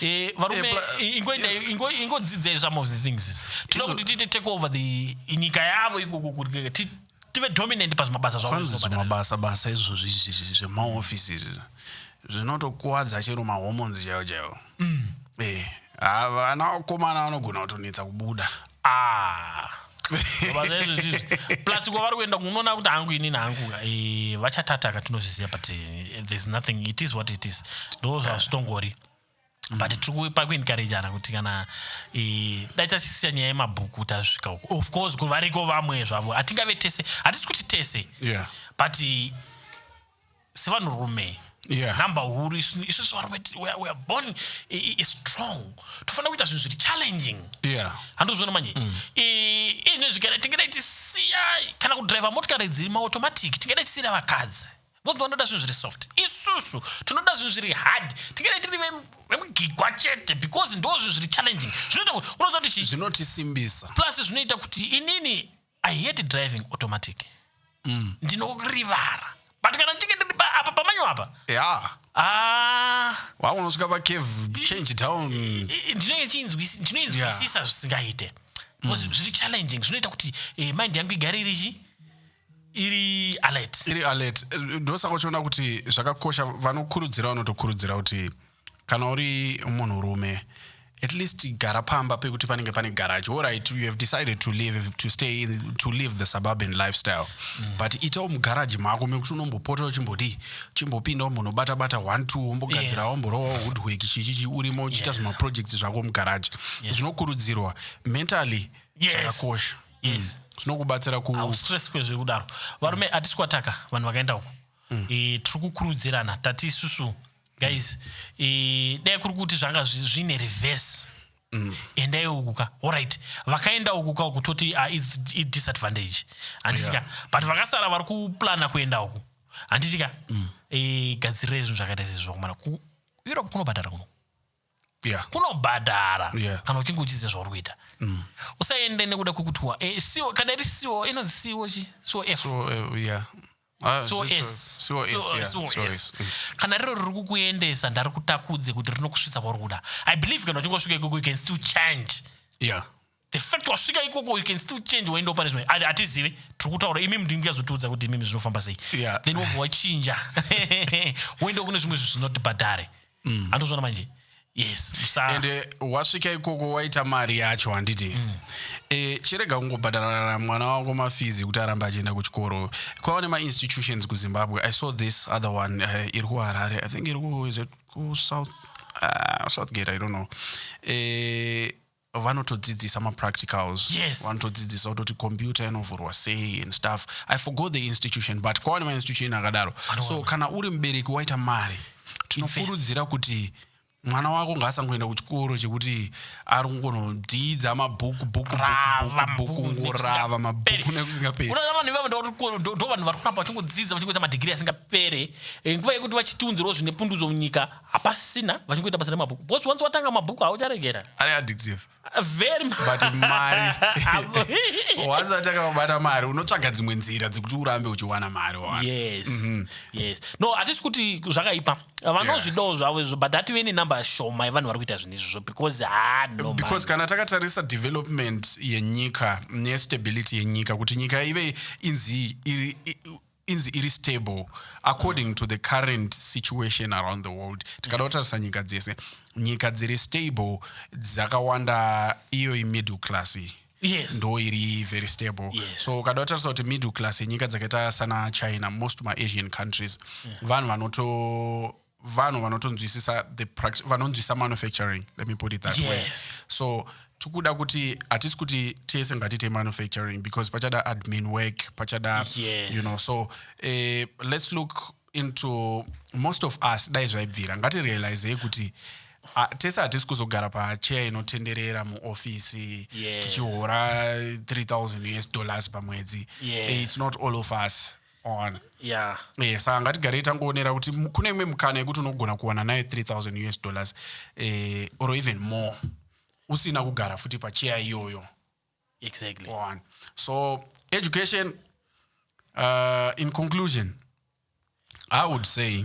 Eh, varume Eh, pla- i- ingo- inda- ingo- ingodzidzai some of the things izi. tinoda kuti tiite take over the nyika yavo ikoko kuti ti- tive dominant pazvimabasa zvavo kwanzi zvinobhadhara. zvimabasa basa izvozvi izvi- izvi zvemaofisi izvi zvinotokuvadza chero mahormones chaiwo chaiwo Eh, ava vana vakomana vanogona kutonetsa kubuda Ah. plus kwavari kuenda kunoona kuti hangu inini hangu eh, vachatataka tinozviziva but eh, there's nothing it is what it is ndo zvazvitongori mm. but tiri pakuencouragana kuti kana eh, dai tachisiya nyaya yemabhuku tasvika uko of course variko vamwe zvavo hatingave tese hatisi kuti tese but sevanhurume yeah. number huru isusu varume weare born strong tofanira kuita zvinhu zviri challenging yeah. handozviona manje mm. ine zvigara tingadai tisiya kana kudriver motikari dziri maautomatic tingadai tisiyira vakadzi because vanoda zvinhu zviri soft isusu tinoda zvinhu zviri hard tingadai tiri vemugigwa chete because ndo zvinhu zviri challenging zvinoita kuti unoziva kuti zvinotisimbisa plus zvinoita kuti inini i hate driving automatic mm. ndinorivara but kana ndichinge ndiri apa pamanyo apa yeah. Ah. wakunosvika pacave change down ndinoinzwisisa zvisingaite bcause mm. zviri challenging zvinoita kuti eh, mind yangu igare irichi iri alert iri alert eh, ndosaka uchiona kuti zvakakosha vanokurudzira vanotokurudzira kuti Kana uri munhu rume at least gara pamba pekuti panenge pane garage orit you have decided to live, to stay in, to live the suburban lifestyle mm. but itawo mugaraji mako mekuti unombopota uchimbodii chimbopinda umbonobata bata one two wombogadzira yes. womborowa woodwork chichichi urimo uchiita yes. zvimaprojects zvako mugaraji yes. zvinokurudzirwa mentally zvakakosha yes. mm. zvinokubatsira kustress kwezvekudaro varume mm. atisi kwataka vanhu vakaenda uko mm. e, tiri kukurudzirana tati isusu guys e, dai kuri kuti zvanga zvine reverse Mm. endai uku ka orit vakaenda uku ka uku toti uh, ah, idisadvantage handiti ka yeah. but vakasara vari kuplana kuenda uku handiti ka mm. e, eh, gadzirira izvinhu zvakaita sezvo kumana kueurope kunobhadhara kuno yeah. kunobhadhara yeah. kana uchinge uchiziva zvauri kuita mm. usaende nekuda kwekuti wa e, eh, CO, kana iri co inonzi co chi cof so, uh, eh, yeah. Ah, so zviso- es so es, so- yeah, so so es. es. Mm. kana riro riri kukuendesa ndarikutakudze kuti rinokusvitsa kwauri kuda i believe kana uchinge wasvika ikoko you can still change yeah the fact wasvika ikoko you can still change waenda pane zvimwe Ati- hatizivi tiri kutaura imimi ndingazotiudza kuti imimi zvinofamba sei Yeah. then wobva wachinja woenda kune zvimwe zvinhu zvinoti bhadhare andozvona manje yes musaa and eh, wasvika ikoko waita mari yacho handiti mm. e, chirega kungobhadharara mwana wako mafizi kuti arambe achienda kuchikoro kwava nemainstitutions kuzimbabwe i saw this other one uh, iri kuharare i think iri ku is it ku south uh, southgate i don't know e, vanotodzidzisa mapracticals yes. vanotodzidzisa kutoti computer inovhurwa sei and stuff i forgot the institution but kwawane mainstitution akadaro so kana uri mubereki waita mari tinokurudzira kuti mwana wako ngaasangoenda kuchikoro chekuti ari kungonodzidza mabhuku bhukubhuku ngorava mabhuku nekusingaperi unoona vanhu ivavo ndo vanhu vari kuramba vachingodzidza vachingoita madhigiri asingapere eh, nguva yekuti vachitiunzirawo zvine pundudzo munyika hapasina vachingoita basa remabhuku because once watanga mabhuku haucharegera ari addictive Ah, very mu- but mari once watanga kubata mari unotsvaga dzimwe nzira dzekuti urambe uchiwana mari wawana. yes yes no hatisi kuti zvakaipa vanozvidawo zvavo izvo but hative ne number shoma yevanhu vari kuita zvinhu izvozvo because ha no man. because kana takatarisa development yenyika nestability yenyika kuti nyika ive inzi iri i- inzi iri stable according to the current situation around the world tikada kutarisa nyika dzese nyika dziri stable dzakawanda iyoyi middle class iyi yes ndo iri very stable Yes. so ukada kutarisa kuti middle class yenyika dzakaita sana china most maasian countries vanhu vanoto vanhu vanotonzwisisa the pract- vanonzwisisa manufacturing let me put it that way Yes. so tikuda kuti hatisi kuti tese ngatiite manufacturing because pachada admin work pachada Yes. you know so eh, let's look into most of us dai zvaibvira ngatirealizei kuti ah, tese hatisi kuzogara pacheya inotenderera muofisi Yes. tichihora 3000 us dollars pamwedzi Yes. Eh, it's not all of us wawana yeah Eh, saka ngatigarei tangoonera kuti mu- kune imwe mukana yekuti unogona kuwana nayo 3000 us dollars eh, or even more usina kugara futi pacheya iyoyo exactly one. So education, uh, in conclusion, I would say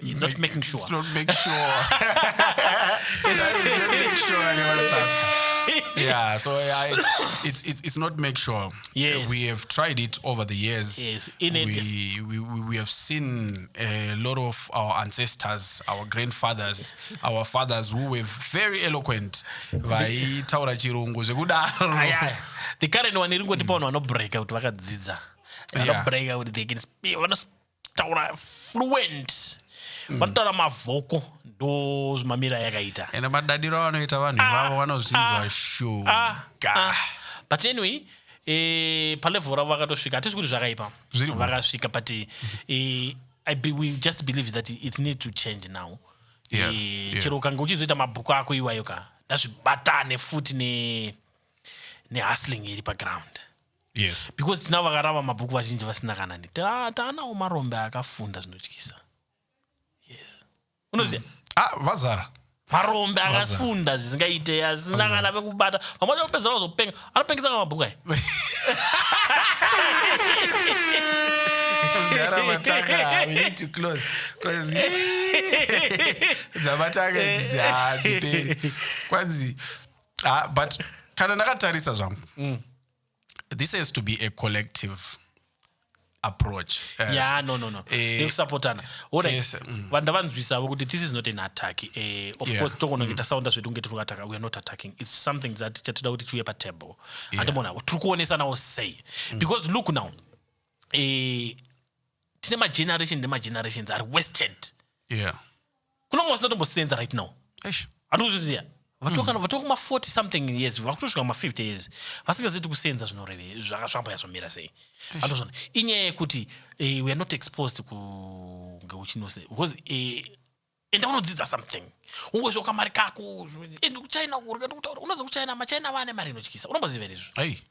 He's not making sure. It's not make sure. He's not make sure anyone is asking. Yeah, so yeah, it's, it's it's it's not make sure. Yes. we have tried it over the years. Yes, in it- we, we we we have seen a lot of our ancestors, our grandfathers, our fathers who were very eloquent. Vaitaura chirungu zvekudaro. Aye, aye. the current one iri kungotipa vanhu vanobreaka kuti vakadzidza Yeah. vanobreaka kuti they can speak, vano taura fluent mm. vanotaura mavhoko ndo zvimamira yakaita ende madadiro avanoita vanhu ah, ivavo vanozvinzwa ah, shuga ah, but anyway e, palevel ravo vakatosvika hatisi kuti zvakaipa vakasvika but e, I be, we just believe that it need to change now yeah, e, yeah. chero ukange uchizoita mabhuku ako iwayo ka ndazvibatane futi nehustling ne iri paground yes because tinavo vakarava mabhuku vazhinji vasina kana ne Ta- taanawo marombe akafunda zvinotyisa yes unoziva ah vazara marombe akafunda zvisingaite asina kana pekubata vamwe vacho vanopedzisira vazopenga anopengesa kana mabhuku aya Mdara matanga, we need to close. 'Cause, eh, dzamatanga idzi hadziperi. Kwanzi, ah, but kana ndakatarisa zvangu this has to be a collective approach uh, yeah, no, no, no. Uh, eh, nekusapotana right. mm. vanhu ndavanzwisavo kuti this is not an attack uh, of yeah. course tokononge mm. tasaunda zvedu kunge tiri kuataka weare not attacking its something that chatoda kuti chiuye patable yeah. andimona tiri kuonesanawo sei mm. because look now uh, tine mageneration nemaggenerations are wasted yeah. kuna mwe vasinatombosenza right now eish handi kuzviziva vatokana mm. vatokuma 40 something years vakutosvika ma 50 years vasingazivi kuti kusenza zvinoreve zvaka- zvamboya zvomira sei andozvona inyaya yekuti eh, we are not exposed kunge uchinose because eh, enda unodzidza something ungoziva kamari kako enda kuchina kurya ndikutaura unoziva kuchina machina vane mari inotyisa unomboziva here izvo ai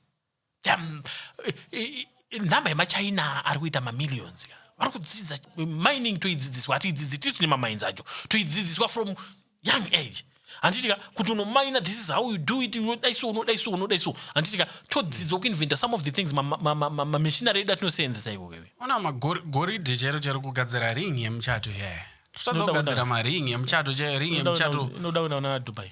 Damn. Eh, eh, eh, nhamba yemachina ari kuita mamillions ka vari kudzidza mining toidzidziswa hatiidzidzi tisu tine mamines acho toidzidziswa from young age handitika kuti unomaina this is how you do it unodai so unodai so unodai so handitika todzidzwa kuinventa some of the things mamishinari edu atinoseenzesa iko keve ona magoridhe chero chero kugadzira ring yemuchato yaya totadza kugadzira maring yemuchato chaiyo ring yemuchato inoda kuenda kuna dubai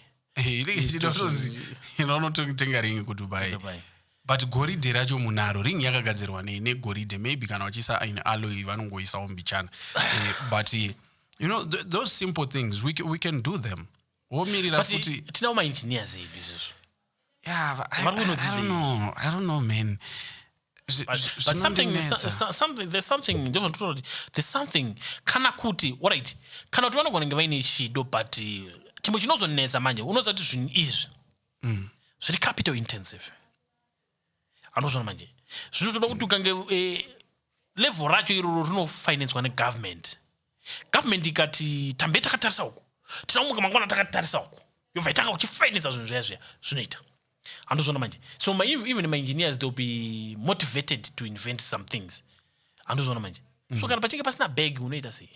inotonzi inonotenga ringi kudubai Dubai. but goridhe racho munaro ringi yakagadzirwa nei negoridhe maybe kana vachiisa in alloy vanongoisawo mbichana Eh, but eh, you know th those simple things we can, we can do them womirira But futi tinawo maengineers edu izvozvo yeah, but I, Vari I, I kunodzidza don't know i don't know man there's something kana kuti orit kana kuti vanogona kunge vaine chido but uh, chimwe chinozonetsa manje unoziva kuti zvinhu izvi mm. zviri capital intensive anozvona manje zvinotoda kuti ukange eh, level racho iroro rinofinancwa negovernment government ikati tambe takatarisa uku tinaumuka mangwana takatarisa uku yobva itanga uchifinansa zvinhu zviya zviya zvinoita handozvona manje so my, even my engineers they'll be motivated to invent some things handozvona manje mm. so kana pachinge pasina bag unoita sei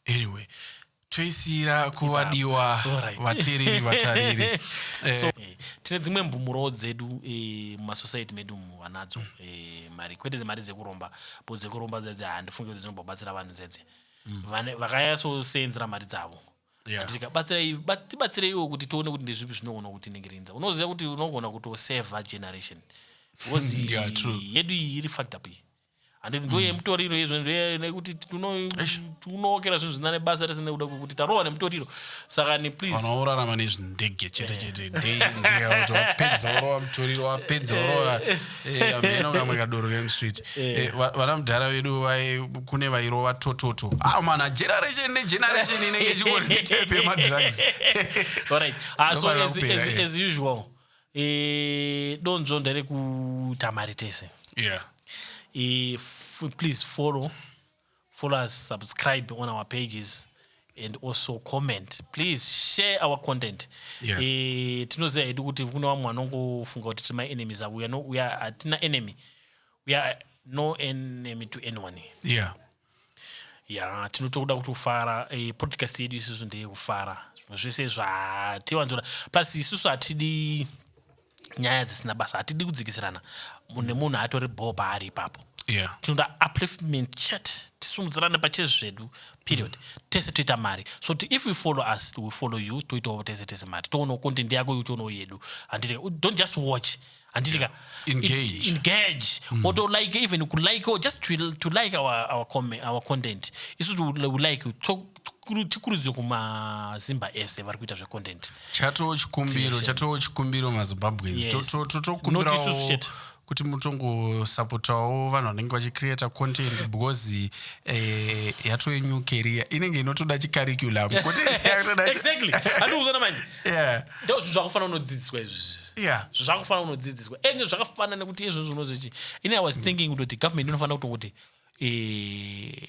anyway toisira kuvadiwa vatereri vatariri eh. eh, tine dzimwe mbumurowo dzedu eh, mumasociety medu mu vanadzo mari kwete dzemari dzekuromba bo dzekuromba dzedze handifunge kuti dzinobva batsira vanhu dzedze mm. vakayasoseenzera mari dzavo yeah. tibatsireiwo kuti tione kuti ndezvipi zvinogona kutiningirinza unoziva kuti unogona kutoseva generation because yeah, yedu iyi iri fact up iyi handiti ndo yemutoriro izvo nekuti tunookera zvinhu zvina nebasa rese nekuda kwekuti tarohwa nemutoriro saka ni please orarama nezvindege chete chete dei ndeyapedza orova mutoriro wapedza orova Eh, hameno vamwe kadoro kemstreet Eh. Eh, va- vana mudhara vedu vai- kune vairova tototo ah mana generation negeneration inenge ichingori netype yemadrugs Alright. Ah, so Ndofanira as, kupera, as, yeah. as usual eh, donzvo nderekutamari tese yeah Eh, f- please follow Follow us, subscribe on our pages and also comment please share our content yeah. e, tinoziva hedu kuti kune vamwe vanongofunga kuti tiri maenemies avo uya no, hatina enemy we are no enemy to anyone yeah ya tinotoda kuti kufara e, podcast yedu isusu ndeyekufara zvino zvese zvatiwanzora plus isusu hatidi nyaya dzisina basa hatidi kudzikisirana munhu nemunhu atori bhoo paari ipapo yeah. tinoda upliftment chat tisumudzirane pachezvi zvedu period mm. tese toita mari so ti if we follow us we follow you toitawo tese tese mari toonawo content yako iyo tionawo yedu handiti don't just watch handiti ka engage, engage. Mm. or to like even kulike or just to, to like our, our, our content isu we like to tikurudzire kumazimba ese vari kuita zvecontent chatoo chikumbiro chatoo chikumbiro mazimbabweans totokumbirawo kuti mutongosapotawo vanhu vanenge vachicreata content because eh, yato yenew career inenge inotoda chicurriculum exactly handikuzoona manje ndo zvinhu zvakafanira unodzidziswa izvizvi zvakufanira unodzidziswa enge zvakafanira nekuti izvozvo unozvichi ini i was thinking kutoti government inofanira kutongoti eh,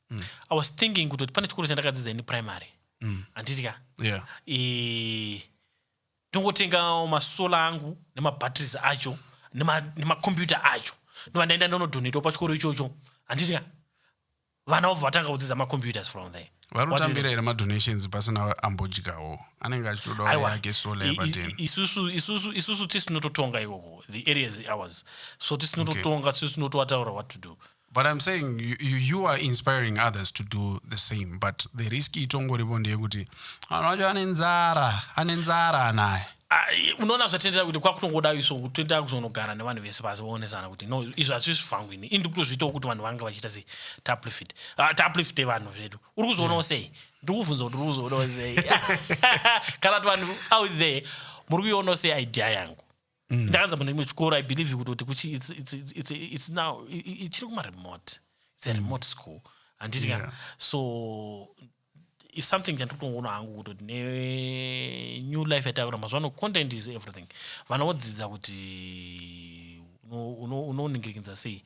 mm. i was thinking kuti pane chikoro chandakadzidza ini primary mm. handiti ka yeah. e, ndongotenga masola angu nemabatteries acho nemakombiyuta nema acho ndova ndaenda ndonodonetwa pachikoro ichocho handiti ka vana vobva vatanga kudzidza macomputers from there varotambira here madonations pasina ambodyawo anenge achitoda yake sola yapatenisusu tisinototonga ikoko the areas ours so tisinototonga okay. tisinotoataura what to do but im saying you, you are inspiring others to do the same but the risk itongoripo ndeyekuti vanhu vacho ane nzara ane nzara anaye ah, unoona zvatendera kuti kwakutongoda iso kutoenda kuzonogara nevanhu vese pasi vaonesana kuti no izvo hazvisi zvangu ini indi kutozviitawo kuti vanhu vanga vachiita sei taplifit ah, taplifite vanhu zvedu uri kuzvionawo sei mm. ndiri kuvhunza kuti uri kuzvionawo sei kana kuti vanhu out there muri kuionawo sei idea yangu mm. ndakanza mune chimwe chikoro i believe kutoti kuchi it's, it's, it's, it's, it's now chiri kumaremote it's a mm. remote school handiti ka yeah. so is something chandiri kutongoona hangu kutoti nenew life yataura mazuva ano content is everything vana vodzidza kuti unoningirikinza sei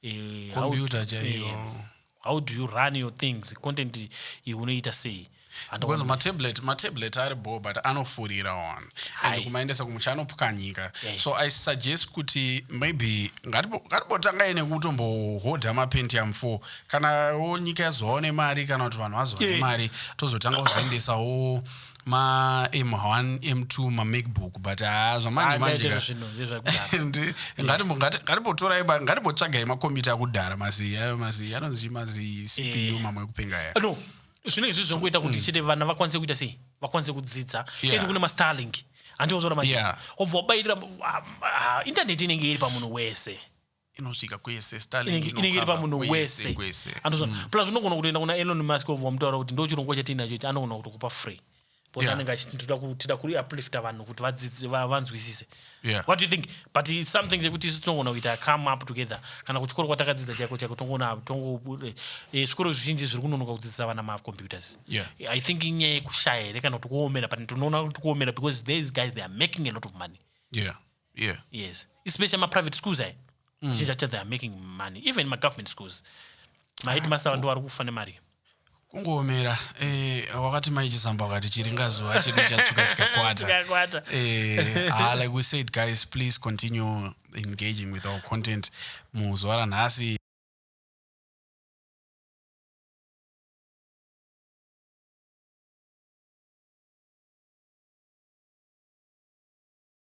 eh, how, Computer do- chaiyo. eh, how do you run your things content iyi unoita sei Handa because wani- matablet matablet ari bho but anofurira one Hai. and kumaendesa kumusha anopwanyika Yeah. so i suggest kuti maybe ngatibo- ngatibotangai nekutombohodha mapentium 4 kana wo nyika yazovawo nemari kana kuti vanhu vazovawo Yeah. nemari tozotanga kuzoendesawo ma m1 m2 mamacbook but haa zvamanje manjengatimbotorai ngatimbotsvagai makombiyuta akudhara mazii ayo mazii anonzi mazii cpu eh. mamwe ekupenga aya no zvino izvi zvangoita kuti mm. chete vana vakwanise kuita sei vakwanise kudzidza ende kune mastarlink handiozoona manje wobva wabairira ah, ah, intaneti inenge iri pamunhu wese inosvika kwese Starlink inenge iri inokava pamunhu kwese, wese kwese. andozvona plus unogona kutoenda kuna elon musk wobva wamutaura kuti ndo chirongwa chatiinacho ichi anogona kutokupa free because Yeah. anenge achiti tinoda ku- tida kuri uplifta vanhu kuti vadzidze va- vanzwisise Yeah. what do you think but it's something chekuti isu tinogona kuita come up together kana kuchikoro kwatakadzidza chaiko chaiko tongona tongo eh, eh, zvikoro zvizhinji zviri kunonoka kudzidzisa vana macomputers Yeah. i think inyaya yekushaya here kana kuti kuomera but tinoona kuti kuomera because these guys they are making a lot of money yeah yeah yes especially ma private schools ayi zhinji chacho they are making money even ma government schools ma headmaster vandu vari kufa nemari kungoomera eh, wakati mai chisambo wakati chiringa zuva chedu chatsvuka chikakwata Chikakwata. Eh, ah, like we said guys please continue engaging with our content muzuva ranhasi